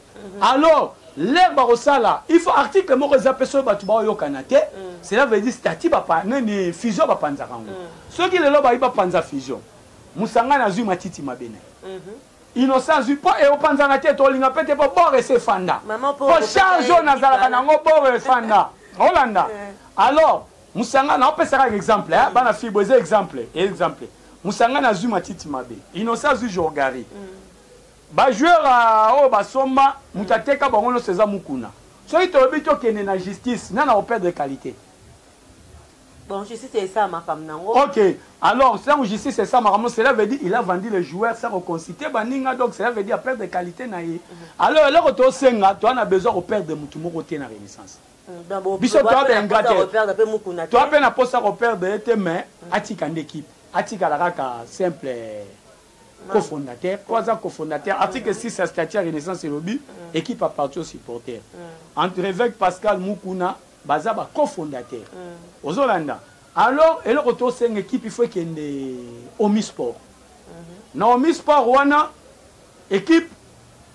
Alors l'heure bakosala il faut article moko eza mpe soki bato baoyokana te mm. cela veut dire statut nini fusion bapanzaka yango mm. soki lelo bayi bapanza fusion mosangani azwi matiti mabe na ye mhm. innocent azwi mpo eopanzana te tolinga mpe te mpo bor ese efanda mpo charge oyo nazalaka na yango bor efanda olanda eh. alors mosanga naopesaka exemple eh, bana fille boza exemple exemple mosanga nazwi matiti mabe innocent azwi jorgari mm. Ba joueurs oyo basomba mutu ateka bango nionso eza mukuna. Soki tolobi tokende na justice nani ako perdre qualite? Donc justice esala makambo na yango. Ok, alors tango justice esala makambo cela veut dire il a vendu le joueur sans ko consulter baninga donc cela veut dire a perdre qualite na ye. Mhm. Alors eloko tosenga toa na besoin ko perdre mutu moko te na renaissance. Mm, biso toa ba ingrat te. Toa pe na posa ko perdre ye te mais mhm. atika nde equipe. Atikala kaka simple cofondateur oyo aza cofondateur article 6 ya statut ya renaissance elobi mm. équipe aparti au supporter mm. entre évêque pascal mukuna baza ba cofondateur mm. ozolanda alors eloko tosenga équipe il faut ekende omi sport mm-hmm. na omi sport wana équipe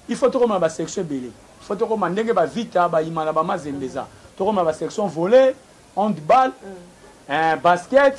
il faut tokoma ba section ebele il faut tokoma ndenge ba vita ba imana ba mazembe eza tokoma ba section volet handball mm. eh, basket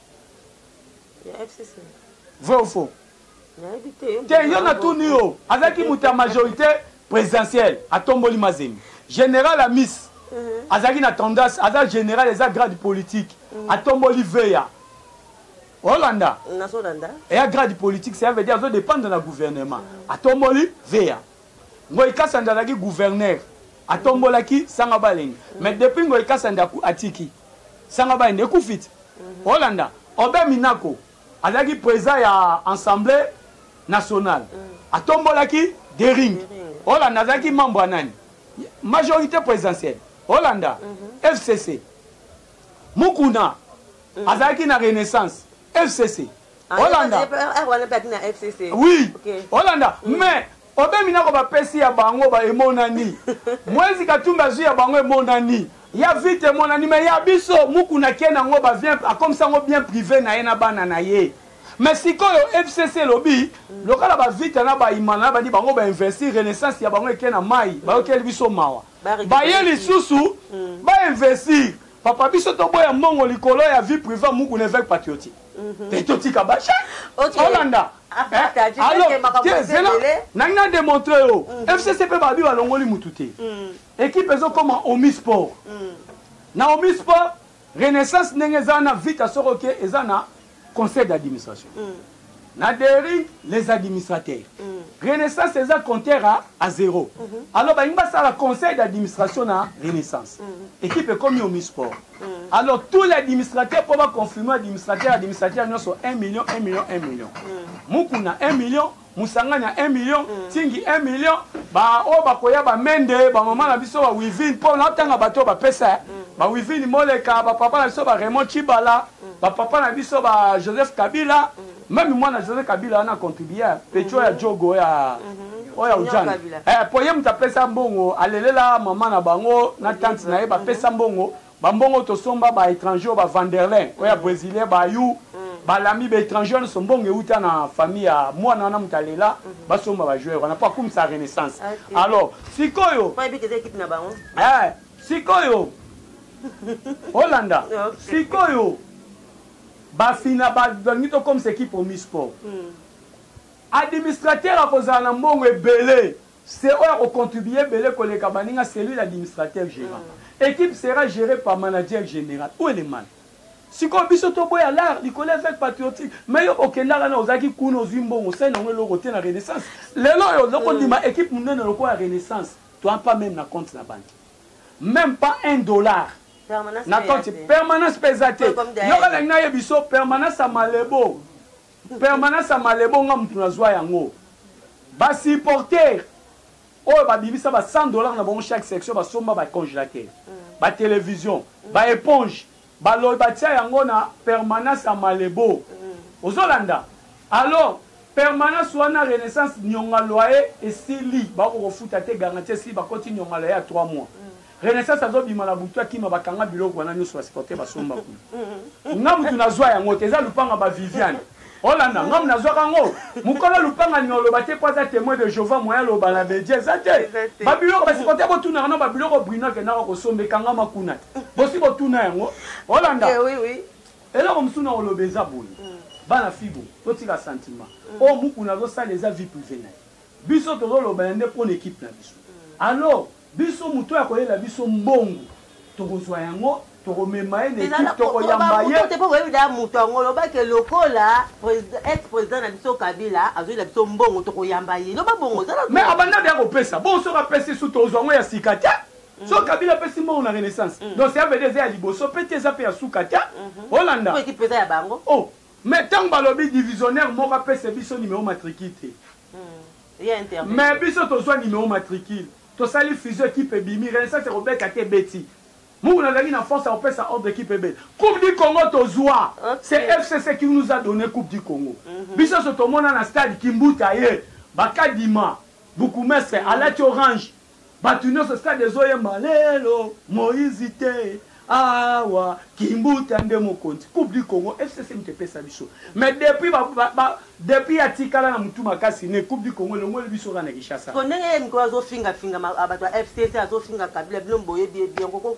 ya fcc vrai ou faux nayebi te yo te mpe yo na nayebi tuni yo bongo. azalaki moto ya majorité présidentielle atomboli mazembe général amis Mhm. azalaki na tendance aza général eza grade politique atomboli veya olanda nazolanda eya grade politique ça veut dire azo dépendre na gouvernement atomboli veya ngoi kasanda azalaki gouverneur atombolaki sanga balenge mais depuis ngoi kasanda aku- atiki sanga bayi nde ekufiti mhm. olanda obe minako azalaki président ya assemblée nationale mhm. atombolaki dering olanda azalaki membre ya nani majorité présidentielle olanda mhm. fcc mukuna azalaki na renaissance fcc olanda oui olanda mais Obemi nako ba pesi ya bango ba emonani. Moise Katumbi azui ya bango emonani. Ya vita emonani mais ya biso Mukuna akie nango ba vient akomisa yango bien prive na ye na bana na ye. Mais sikoyo FCC elobi lokala ba vita na ba imana na bandi bango ba investir renaissance ya bango ekie na mayi. Bayokeli biso mawa. Baye lisusu ba investir. Papa biso to boya mbongo likolo ya vie privée muku ne veut patriotique. Mhm. Te to tika ba chat. Ok. Olanda. Ah, eh? Alors, te zela. Nangna démontrer yo. Mhm. FCC pe ba bi ba longoli mutu te. Mhm. Équipe ezo koma Omi Sport. Na Omi Sport Renaissance ndenge eza na vita soko ke eza na conseil d'administration na dering les administrateurs renaissance eza compteur a, a zero alors balingi basala conseil d'administration na renaissance équipe ekomi omi sport alors tous les administrateurs mpo baconfirme administrateur administrateur nyonso 1 million 1 million 1 million mukuna 1 million mosangani ya 1 million mm. tingi 1 million baoyo bakoya bamende bamama na biso bawivine mpo natanga bato oyo bapesa eh. mm. bawivine moleka bapapa na biso ba raymond chibala mm. bapapa na biso ba joseph kabila meme mwana joseph kabila wana contribue petio ya jogo ya mm-hmm. oyo ya ujana eh, mpo ye moto apesa mbongo alelela mama na bango na tante na ye bapesa mbongo Ba mbongo tosomba ba etrangers oyo ba vanderlin oyo ya mm. bresilien ba yu mm. balami ba etrangers wana so mbongo euta na famille ya mwana wana moto alela mm-hmm. basomba ba joueur wana mpo akumisa renaissance alors sikoyo eh, sikoyo olanda sikoyo bafina balingi tokomisa ekipe omisport administrateur akozala na mbongo ebele Se oyo ako contribuer ebele koleka baninga c'est lui l'administrateur gerant. Equipe sera gere par manager general. Où est le mal? Sikoyo biso to boya l'art likolo ya fete patriotique mais yo okendaka na ozalaki kuna ozui mbongo osali nango eloko te na renaissance. Lelo oyo oza kondima equipe munene lokola renaissance toi pas meme na compte na banque. Meme pas un dollar na compte permanence pe eza te. Yoka ndenge na yebiso permanence ya malebo. Permanence ya malebo nga mutu nazua yango ba supporter oyo ba bimisa ba 100 dollars na bango chaque section ba somba ba congelateur ba television ba eponge ba loyi ba tia yango na permanence ya malebo ozo landa alors permanence wana renaissance nionga loyer esili ba ko kofuta te garantie esili ba koti nionga loyer ya 3 mois Renaissance azo bima na butu akima ba kanga biloko wana nyoso ba supporter ba somba kuna. Nga mutu na zwa yango te eza lupanga ba Viviane. Olanda nga na zwa kango. Mukolo lupanga ni oloba te kwa za temoin de Jehovah moya loba na media eza te. Ba biloko ba supporter ko tuna na ba biloko Bruna ke na ko sombe kanga ma kuna. Bosi bo tuna yango. Olanda. Eh oui oui. Eloko musu na oloba eza boye. Mm. Bana fibo to tika sentiment. Mm. O muku na zo sala eza vie privée na. Biso to zo loba yande pona équipe na biso. Mm. Alors Biso mutu oyo akoyela biso mbongo tokozwa yango tokomema ye na ekipe tokoyamba ye te mpo boyebi da moto yango loba ke lokola ex président na biso kabila azoyela biso mbongo tokoyamba ye loba bongo me abanda deya kopesa bongo soki apesi su tozwa yango ya sika te mm. soki kabila apesi mbongo na renaissance mm. donc cavd eza ya liboso mpe te eza mpe ya suka te mm-hmm. olanda ekipe eza ya bango o oh, me ntango balobi divisionnaire moko apese biso nimero matriki te mais biso tozua numero matricule tosali fusion equipe ebimi renaissance ekobeta te ebeti mukuna azalaki na force ya kopesa ordre equipe ebeta coupe du congo tozua c'est fcc qui nous a donne coupe du congo mhm. biso nso tomona na stade kimbuta ye bakadima bukumestre alati orange Batu nionso stade ezo yemba lelo Moïse te awa kimbuta nde mokonzi coupe du Congo FCC mutu epesa biso mais depuis ba, ba, ba depuis atikala na mutu makasi ne coupe du Congo elongoli biso ka na Kinshasa. Ko ndenge ye mikolo azo finga finga batu ya FCC azo finga Kabila bino boyebi ye bien koko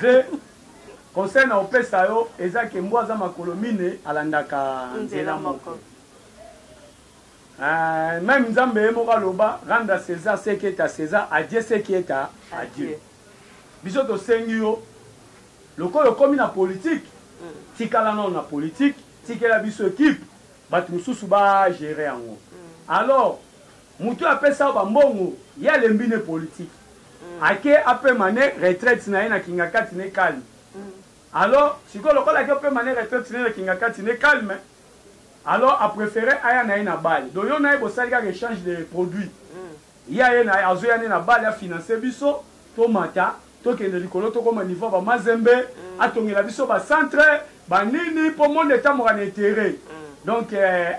Ze conseil na opesa yo eza ke mbwa aza makolo mine alandaka nzela moko Uh, meme nzambe ye moko aloba rendre à césar ce qui est à césar à dieu ce qui est à, à dieu biso tosengi yo lokola okomi na politike mm. tikala nao na politike tikela biso ekipe bato mosusu bagere yango mm. alors Mutu oyo apesa yo ba mbongo ye alembi ne politique ake apema ne retraite naye na kingakati ne calme alors sikoyo lokola ake opema ne retraite naye na kingakati ne calme alors a prefere aya naye na bale donc yo naye bosali kaka echange de produit ye aye naye azoya ne na bale a finance biso tomata tokende likolo tokoma niveau ya ba mazembe atongela biso ba centre ba nini po monde etamboka na intere donc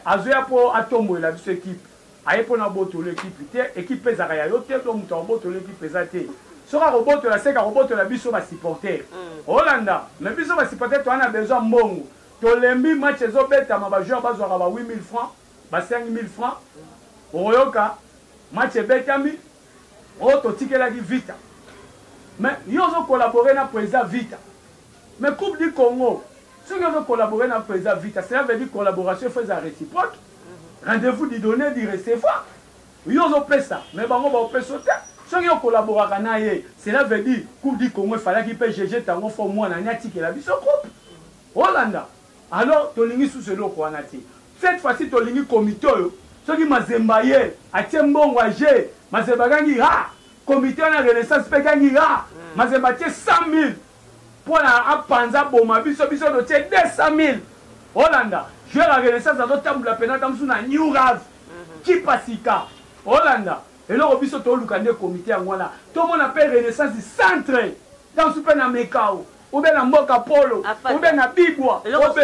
azoya po atombolela biso equipe Aye pona abotola equipe te equipe pe ezalaka ya yo te donc mutu akobotola equipe eza te soki akobotola seke akobotola biso ba supporter olanda mais biso ba supporter toza na besoin ya mbongo tolembi match ezo betama ba joueurs bazwaka ba 8000 francs ba 5000 francs okoyoka match ebetami oh totikelaki vita mais yo ozo collaborer na president vita Mais coupe du Congo soki ozo collaborer na president Vita cela veut dire collaboration il faut ezala reciproque rendez vous du donner du recevoir yo ozo pesa mais bango bao pesa yo te soki o collaboraka na ye cela veut dire coupe du Congo efalaki pe GG tango fort mwana ni atikela biso coupe olanda alors tolingi susu eloko wana te cette fois ci tolingi comite oyo soki mazemba aye atie mbongo aje mazemba agangi ha Comite wana ya renaissance mpe ekangi ya Mazembe atie 100.000 mpo na apanza aboma biso, biso totie 200.000. Olanda joueur ya renaissance azotambola mpenza ata mosusu na New Rave kipa sika. Olanda eloko biso tooluka nde comite yango wana tomona mpe renaissance centre ntango mosusu mpe na Mekao. obe na mboka polo obe na bibwa obe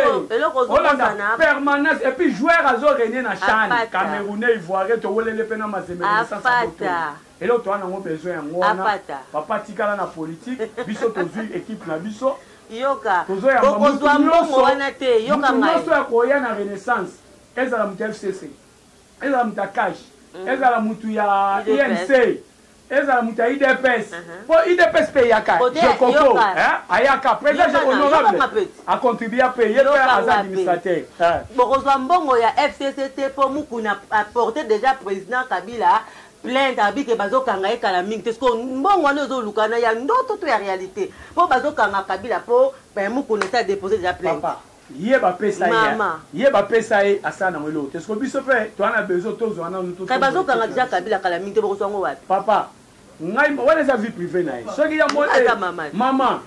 olanda permanence et puis joueur azo régner na chan camerounais ivoirien towelele pe na mazembe na licence eloko toa nango besoin yango wana papa tikala na politique biso tozwi équipe na biso yoka okozwa mbongo wana te yoka ngai nyonso ya koya na renaissance ezala moto ya fcc ezala moto ya cash hmm. ezala moto ya inc Ezala moto ya udps po udps pe eyaka je koko ayaka president je honorable a contribua pe ye pe aza administrateur bokozwa mbongo ya fcc te po mukuna a porte dejà president kabila plainte abi ke bazokanga ye kala mingi te siko mbongo wana ozoluka na ya ndoto to ya realite po bazokanga kabila po mukuna esi a depose dejà plainte ye ba pesa ye ye ba pesa ye asala nango eloko te siko biso pe toa na besoin tozua nanu to kay bazo kanga dejà kabila kala mingi te boko zua ngo wapi papa ngai wana eza vie privée na ye soki ya moni mama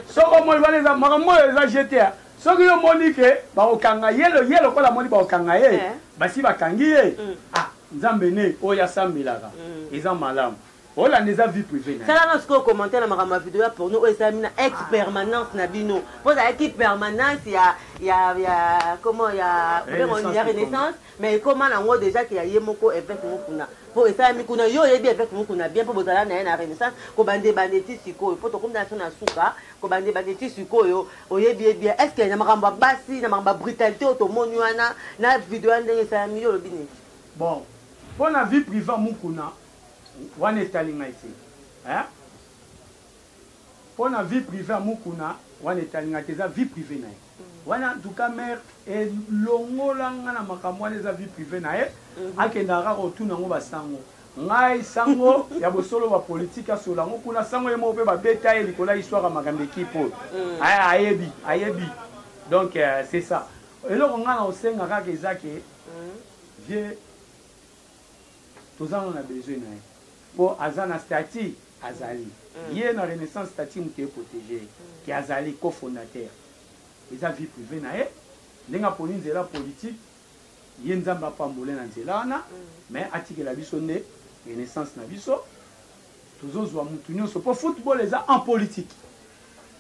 soki omoni wana eza makambo oyo eza jete soki yo omoni ke bakokanga ye ye lokola amoni bakokanga ye eh. basi bakangi ye mm. ah nzambe ne oyo asambelaka mm. eza malamu olanda eza vie privé na sala na sikoyo commentaire na makambo ya video ya porno oyo esalami na ex permanence na bino mpo ezalaki permanence ya ya ya comment ya ya renaissance mais ekoma nango déjà ke ya ye moko évêque moko kuna mpo esalami kuna yo oyebi évêque moko kuna bien mpo bozala na ye na renaissance kobanda ebanda eti sikoyo mpo tokomi na biso na suka kobanda ebanda eti sikoyo oyebi ye bien est ce que na makambo ya basi na makambo ya brutalité oyo tomoni wana na video ya ndenge esalami yo olobi nini bon mpo na vie privé mukuna Wana etali ngai te hein? Pona vie privee ya Mukuna wana etali ngai te eza vie privee na ye. Wana en tout cas mère elongola nga na makambo wana eza vie privee na ye. Mhm. Akendaka kaka kotuna yango ba sango. Ngai sango ya bosolo ba politique asola yango kuna sango ye moko pe ba beta ye likolo ya histoire ya makambo ekipe oyo. Mhm. Aya ayebi, ayebi. Donc euh, c'est ça. Eloko nga na osenga kaka eza ke mhm. vieux toza nanu na besoin na ye po aza na stati azali ye na renaissance stati mutu e protege ye ke azali co fondateur eza vie prive na ye ndenge aponi nzela politique ye nzambe apambola ye na nzela wana mais atikela biso nde renaissance na biso tozozwa mutu nyonso mpo football eza en politique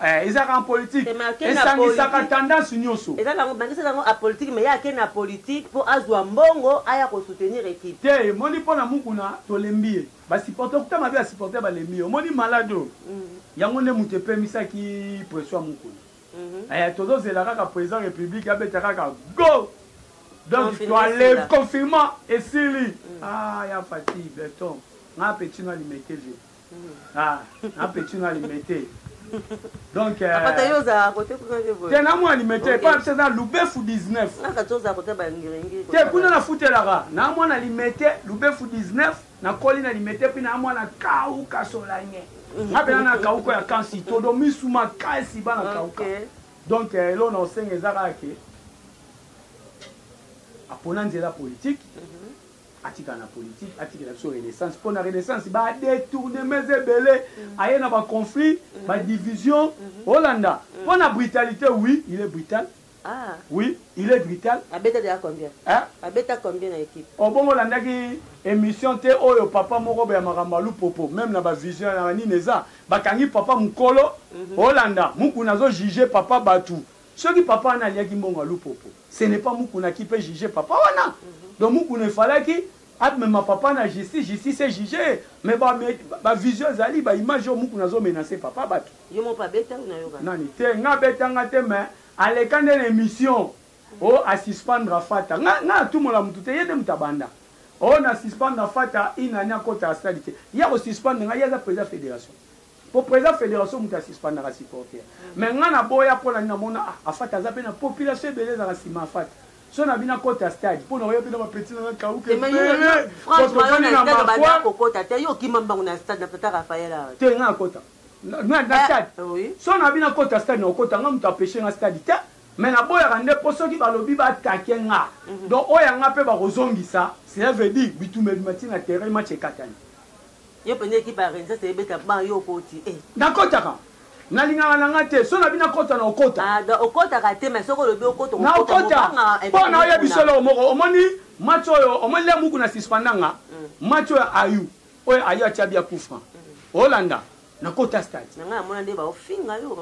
eh, ezalaka en politique esangisaka tendance nyonso bangisa yango a politique mais ye ake na politique mpo azwa mbongo aya kosoutenir équipe te emoni mpo na mukuna tolembi ye basupporter okuta mabe ya supporter balembi ye omoni malade oyo mm. yango nde moto epemisaki pression ya mukuna Mhm. Eh, tozo zela kaka président république abeta kaka go donc toaleve confinement esili mm. ah, ya fati beton nga petit no alimete vie mm. ah, nga petit no alimete donc euh, ah, te na mwa alimete epa biso eza lubefu 19 te kuna nafutelaka na mwana alimete lubefu 19 nakoli na limete mpe na mwana kauka solange nga pena na kauka ya kasi todo misu makasi bana kauka donc eh, elo na osenga eza kaka ke apona nzela politike mhm. atikala na politike atikela biso renaissance mpo na renaissance badetournements ebele mhm. aye na baconflit mhm. badivision olanda mpo na brutalité oui il est brutal Ah. Oui, il est vital. Abeta déjà combien? Hein? Abeta combien na équipe? Obongo landaki émission te oyo papa moko ba makambo alu popo même na ba vision na nini eza bakangi papa mukolo mm -hmm. Olanda mukuna azo juger papa batu soki papa wana aliaki mbongo alu popo ce n'est pas mukuna qui peut juger papa wana mm -hmm. donc mukuna efalaki amema papa na justice justice e juger mais ba, ba vision ezali ba image oyo mukuna azo menacer papa batu Yo moko abeta yo nayoka. Nani te nga abeta nga te mais aleka nde na emission. O oh, a suspendre fata. Nga nga tumola mutu te yende mutu abanda. O oh, na suspendre fata une année akota stade te. Ya ko suspendre nga yaza président fédération. Po président fédération mutu a suspendre ka supporter. Mais nga na boya pona na mona ah, afata aza pe na population ebele za ka sima afata. so na bino akota stade mpo naoya mpe na bapeti na nakauke te nga akota na, na, na eh, stade eh, oui. so nabi nakota stade nakokota nga moto apeshe nga stade te mais naboyaka nde mpo soki balobi batake nga mm -hmm. donc oyo yanga mpe bakozongisa cela veut dire bitumba ebima ti na terrain match ekatani yo mpenza ekipe ya rensa seyebeta ba yo okoti eh. nakotaka nalingaka na nga te so nabi nakota na okota ah, okotaka te mais soki olobi okota na okota mpo na oyebi solo moko omoni match oyo omoni le muku na suspendanga mm. match oyo ayu oyo ayo atia bia coup franc olanda na kota stade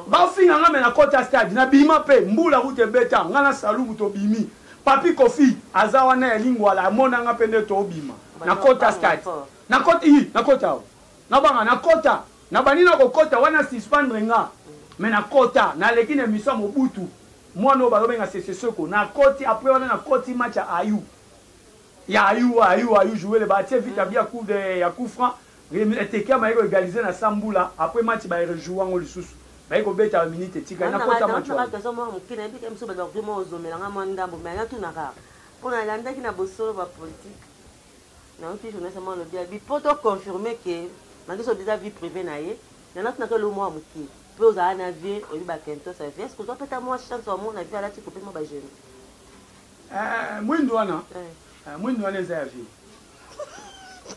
bafinga nga me na kota stade na bima mpe mbula kuta ebeta nga na salumu tobimi papi kofi aza wana ya lingwala amona nga mpe nde tobima na kota stade na kota i na kota o nabanga na kota nabandi na kokota wana suspendre nga me na kota naleki na emission ya mobutu mwana oyo balobenga seseseko nakoti apres wana nakoti match ya ayu Ya ayu wa ayu wa ayu jouer le ba tie vita bia coup de ya coup franc Remy Eteke amayi ko egaliser na sa mbula après match ba rejouer yango lisusu baye ko beta ba minutes etikali na kota match wana. Naza mwa moke na yebi ke biso bato bakokima kozomela nga mwa ndambo mais na tuna kaka mpo na landaki na bosolo ba politique na yoki journaliste mwa lobi ya bi mpo to confirmer ke mangiso biza vie privée na ye na na tuna ke lo mwa moke mpe ozala na vie oyebi ba kentos ya vie est ce que ozwa peta mwa chance wa mona vie alati kopema ba jeunes Eh, mwindu wana eh. Eh, mwindu wana eza ya vie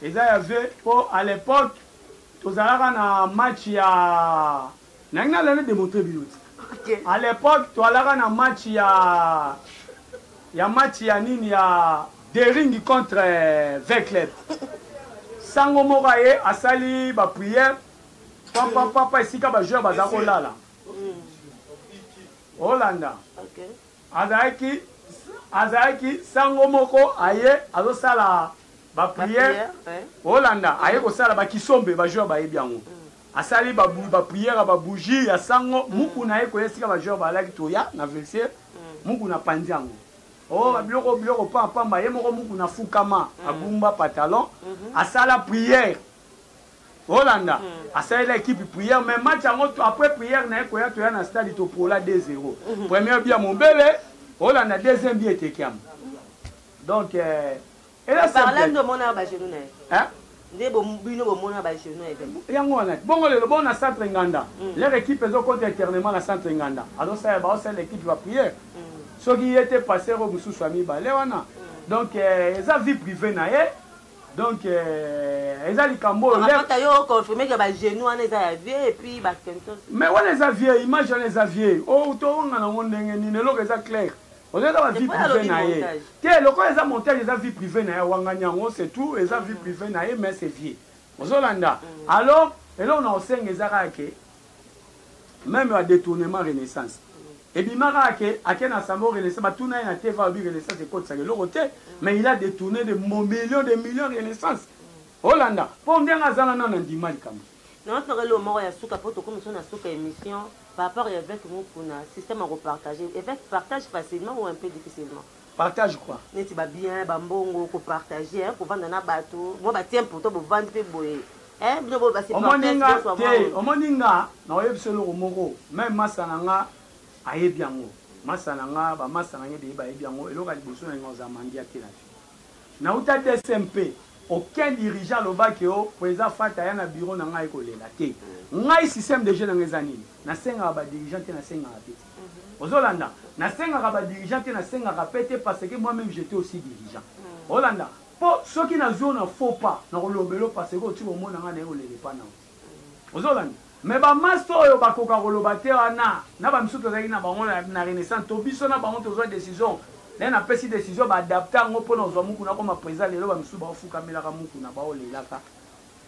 eza ya vie mpo à l'époque tozalaka na match ya nangi nalana démontre bino ti à l'époque toalaka na match ya ya match ya nini ya dering contre eh, vecleb sango moko aye asali baprière papa papa esika bajoueur baza kolala mm. olanda okay. Azalaki azalaki sango moko aye azosala ba prière Holanda aye kosala ba kisombe ba joueur bayebi yango mm. asali ba ba prière ba bougie ya sango mm. muku na ye koya esika ba joueur balaki toya na vestiaire mm. muku na panzi yango oh ba biloko biloko pa pamba ye moko muku na fukama agumba pantalon mhm. asala prière Olanda hmm. asalela ekipe prière mais match yango après prière na ye koya toya na stade topola 2-0 hmm. premier bia mobele olanda deuxième bia etekiama donc euh, yango wana bongo lelo bongo na centre nganda hmm. leur équipe ezokota éternement na centre nganda azosala baosala équipe ya prière soki ye te passer oyo mosusu ya mibale wana donc euh, eza vie privée na ye donc euh, eza likambo oyo apata yo confirme ke ba genou wana eza ya vieux et puis ba kentos mais wana eza vieux image wana eza vieux o oh, towanga nango ndenge nini eloko eza clair ozo eza ba vie privée na ye te lokola eza montage eza vie privée na ye awangani yango c'est tout eza vie mm. privée na ye mais c'est vieux ozolanda mm. alors eloko na osenga eza kaka ke meme ba detournement renaissance ebima kaka ke ake na sango renaissance batuna ye na tv alobi renaissance ekotisaka eloko te mais il a detourne de million de million renaissance olanda mpo ndenge aza na nano andima likambo yango toka eloko moko ya suka mpo tokomi so na suka émission par rapport ya évêque mukuna système ya kopartage évêque partage facilement ou un peu difficilement partage quoi neti ba bien ba mbongo ko partager hein kovanda na bato moi ba tient pourtant bovandi pe boye hein bino bo basi omoni nga te omoni nga na oyebi solo ko moko même masa na nga ayebi yango masa na nga ba masa na ngai beye bayebi yango eloka liboso na nga oza mandia te na vie na uta DSMP aucun dirigeant alobaki o oh, po eza fata ya na bureau na ngai kolela te ngai système de jeu na nga eza nini nasengaka ba dirigeant te nasengaka te ozolanda nasengaka ba dirigeant te nasengaka pe te parce que moi meme j'etais aussi dirigeant mm. olanda po soki nazwi yo na faux pas nakolobela yo parce que otika omona ngai naye kolele pa nao mm. ozolanda me bamasta oyo bakoka koloba te wana na bamisusu tozalaki na bango na renaissance to biso na bango tozwa décision naye napesi décision baadapte yango mpo na ozwa mukuna koma président lelo bamisusu baofukamelaka mukuna baolelaka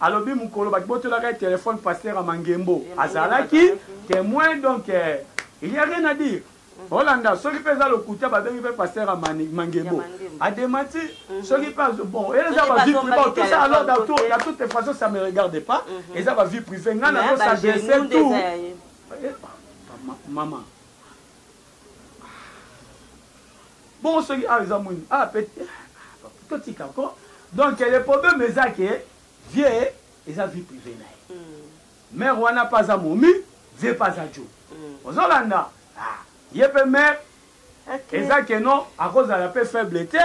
Alobi mukolo ba botolaka ye telephone pasteur ya mangembo azalaki temoin donc il ya rien à dire olanda soki mpe eza lokuta babengi mpe paster ya mangembo ademati mhm. soki mpe bon eza bavie privé tout ça alors dans tout, la toute façon ça me regarde pas mhm. eza bavie privé ngai nazo s'adresse tout eh, eh, mama bongo soki awa eza mwindu awa pe totika ko donc le problème eza ke vie eza vie privé na ye hmm. mare wana mpe aza momi vie mpe aza jo hmm. ozolanda ah, ye mpe mare eza keno akozala mpe faible te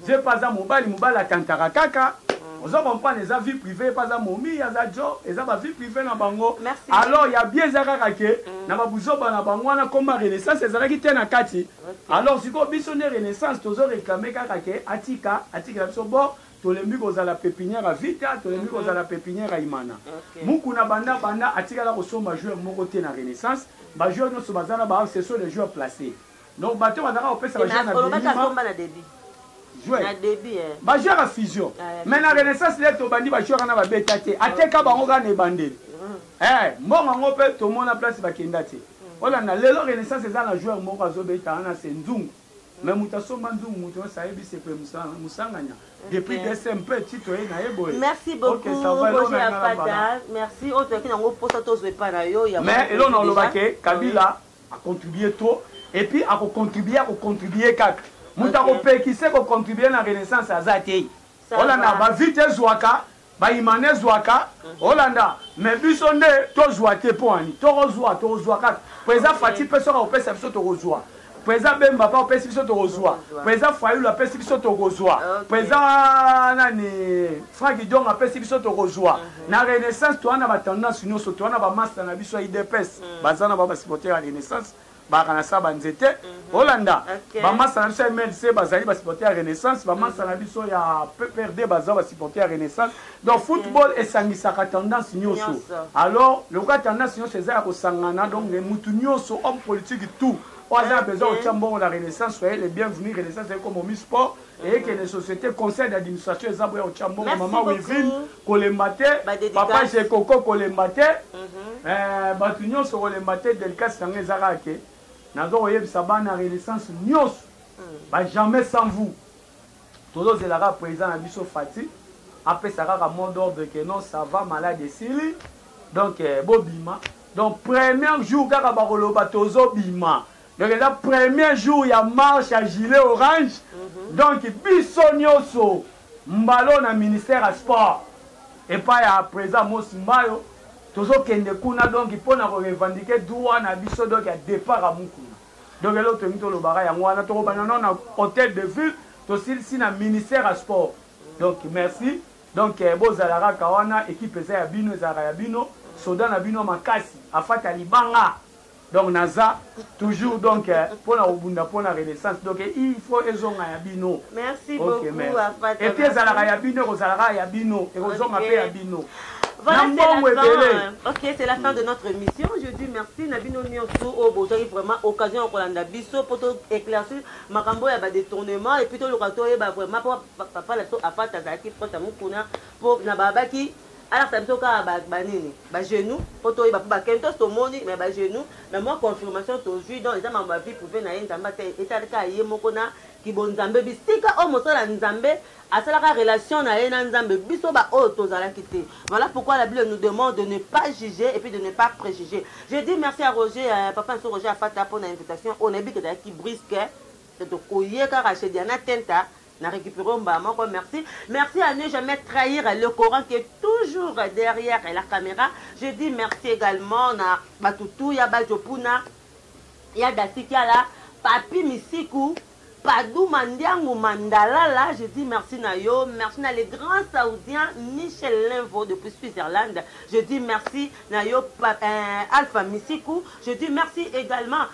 Vieux pa aza mobali, mobali atantaka kaka. Ozo comprendre eza vie privée pa aza momie aza djo eza ba vie privée na bango. Alors ya bien eza kaka ke na ba buzoba na bango wana comme renaissance ezalaki te na kati. Alors sikoyo biso nde renaissance tozo reclamer kaka ke atika atikela biso bord tolembi kozala pepinière ya vita tolembi mhm. kozala pepinière ya imana mukuna banda banda atikala kosomba joueur moko te na renaissance bajoueur nyonso baza na ba ce sont les joueurs placés donc bato oyo bazalaka kopesa bajour na debit bajoueur ya fusion mais na renaissance le tobandi bajoueur wana babeta te ateka bango kaka na ebandeli mm. eh, mbongo yango mpe tomona place bakenda te mm. olanda lelo renaissance eza na joueur moko azobeta wana se nzungu mm. mais moto asomba nzungu moto nyonso ayebi se mpe mosanganya depuis dese mpe tito ye na ye boye merci beaucoutmerci oyo toyaki nango mposa tozwa epai na yo mais elona olobake kabila A contribuer trop et puis ako contribuer ako contribuer kaka. Mutu ako pekise ko contribuer na renaissance aza te. Olanda ba vite ezuaka ba imana ezuaka olanda mais biso nde to zua te po ani toko zua toko zua kaka po eza fati pe soka opesa biso toko zua po eza bemba pa opesi biso toko zua po eza fayulu apesi biso toko zua po eza nani franki dionga apesi biso toko zua Na renaissance toa na ba tendance nioso toa na ba masta na biso ya udps mm. baza na ba ba supporter ya renaissance baka na sa ba nzete mm -hmm. olanda okay. ba masta na biso ya MLC bazali ba supporter ya renaissance ba masta mm -hmm. na biso ya PPRD baza ba supporter ya renaissance donc okay. football esangisaka tendance nioso alors lokola tendance nioso eza ya kosangana donc mm -hmm. mutu nioso homme politique tout oyo aza na besoin kotya mbongo na renaissance soyez le bienvenu renaissance ekomomi sport ekende société conseil d'administration eza boya otya mbongo mama wivine kolemba te papa jekoko kolemba te mhm. eh, bato nyonso kolemba te delikasi yango eza kaka ke naza koyebisa bana renaissance nyonso mm. ba jamais sans vous tozozela kaka président na biso fati apesa kaka mot d'ordre ke non ça va malade esili donc eh, bobima donc premier jour kaka bakoloba tozobima Donc eza premier jour ya marche ya gilet orange donc biso nioso mbalo na ministère ya sport epai ya president Mosi Mbayo tozokende kuna donc mpo na ko revendiquer droit na biso donc ya depart ya Mukuna donc eloko tolingi tolobaka yango wana tokobanda nao na hotel de ville tosilisi na ministère ya sport donc merci donc eh, bozala kaka wana ekipe eza ya bino ezalaka ya bino soda na bino makasi afata libanga Donc naza toujours donc pona kobunda pona renaissance donc il faut ezonga ya bino. Merci okay, beaucoup merci. Et puis ezalaka ya bino ekozala kaka ya bino ekozonga okay. pe ya bino. Voilà, c'est la fin. Ok, c'est la fin de notre émission. Je dis merci Nabino Nionsu au Bozori vraiment occasion au Kolanda Bisso pour tout éclaircir Makambo ya ba détournement et puis tout le kato ya ba vraiment papa la so afata zaki proche à Mukuna pour na babaki alakisa biso kaka ba, ba nini ba genoux po toyeba po ba kentos tomoni mais ba genoux mais mwa confirmation tozwi donc eza mambo ya vie privée na ye nzambe ata etali kaka ye moko na kibonzambe bisika oyo mosala ya nzambe asalaka relation na ye na nzambe biso baoyo tozalaki te voilà pourquoi la bible nous demande de ne pas juger et puis de ne pas préjuger je dis merci à roger euh, papa nso roger afata mpo na invitation oyo nayebi ke ezalaki brisque tokoye kaka chez diana tenta na recupere mbala moko merci merci à ne jamais trahir le coran qui est toujours derrière la caméra je dis merci également na batutu ya bajopuna ya dasikiala papi misiku Padouma Ndiango Mandalala, je dis merci Nayo, merci na le grand saoudien Michel Lenvo depuis Switzerland, je dis merci Nayo euh, Alpha Misiku, je dis merci également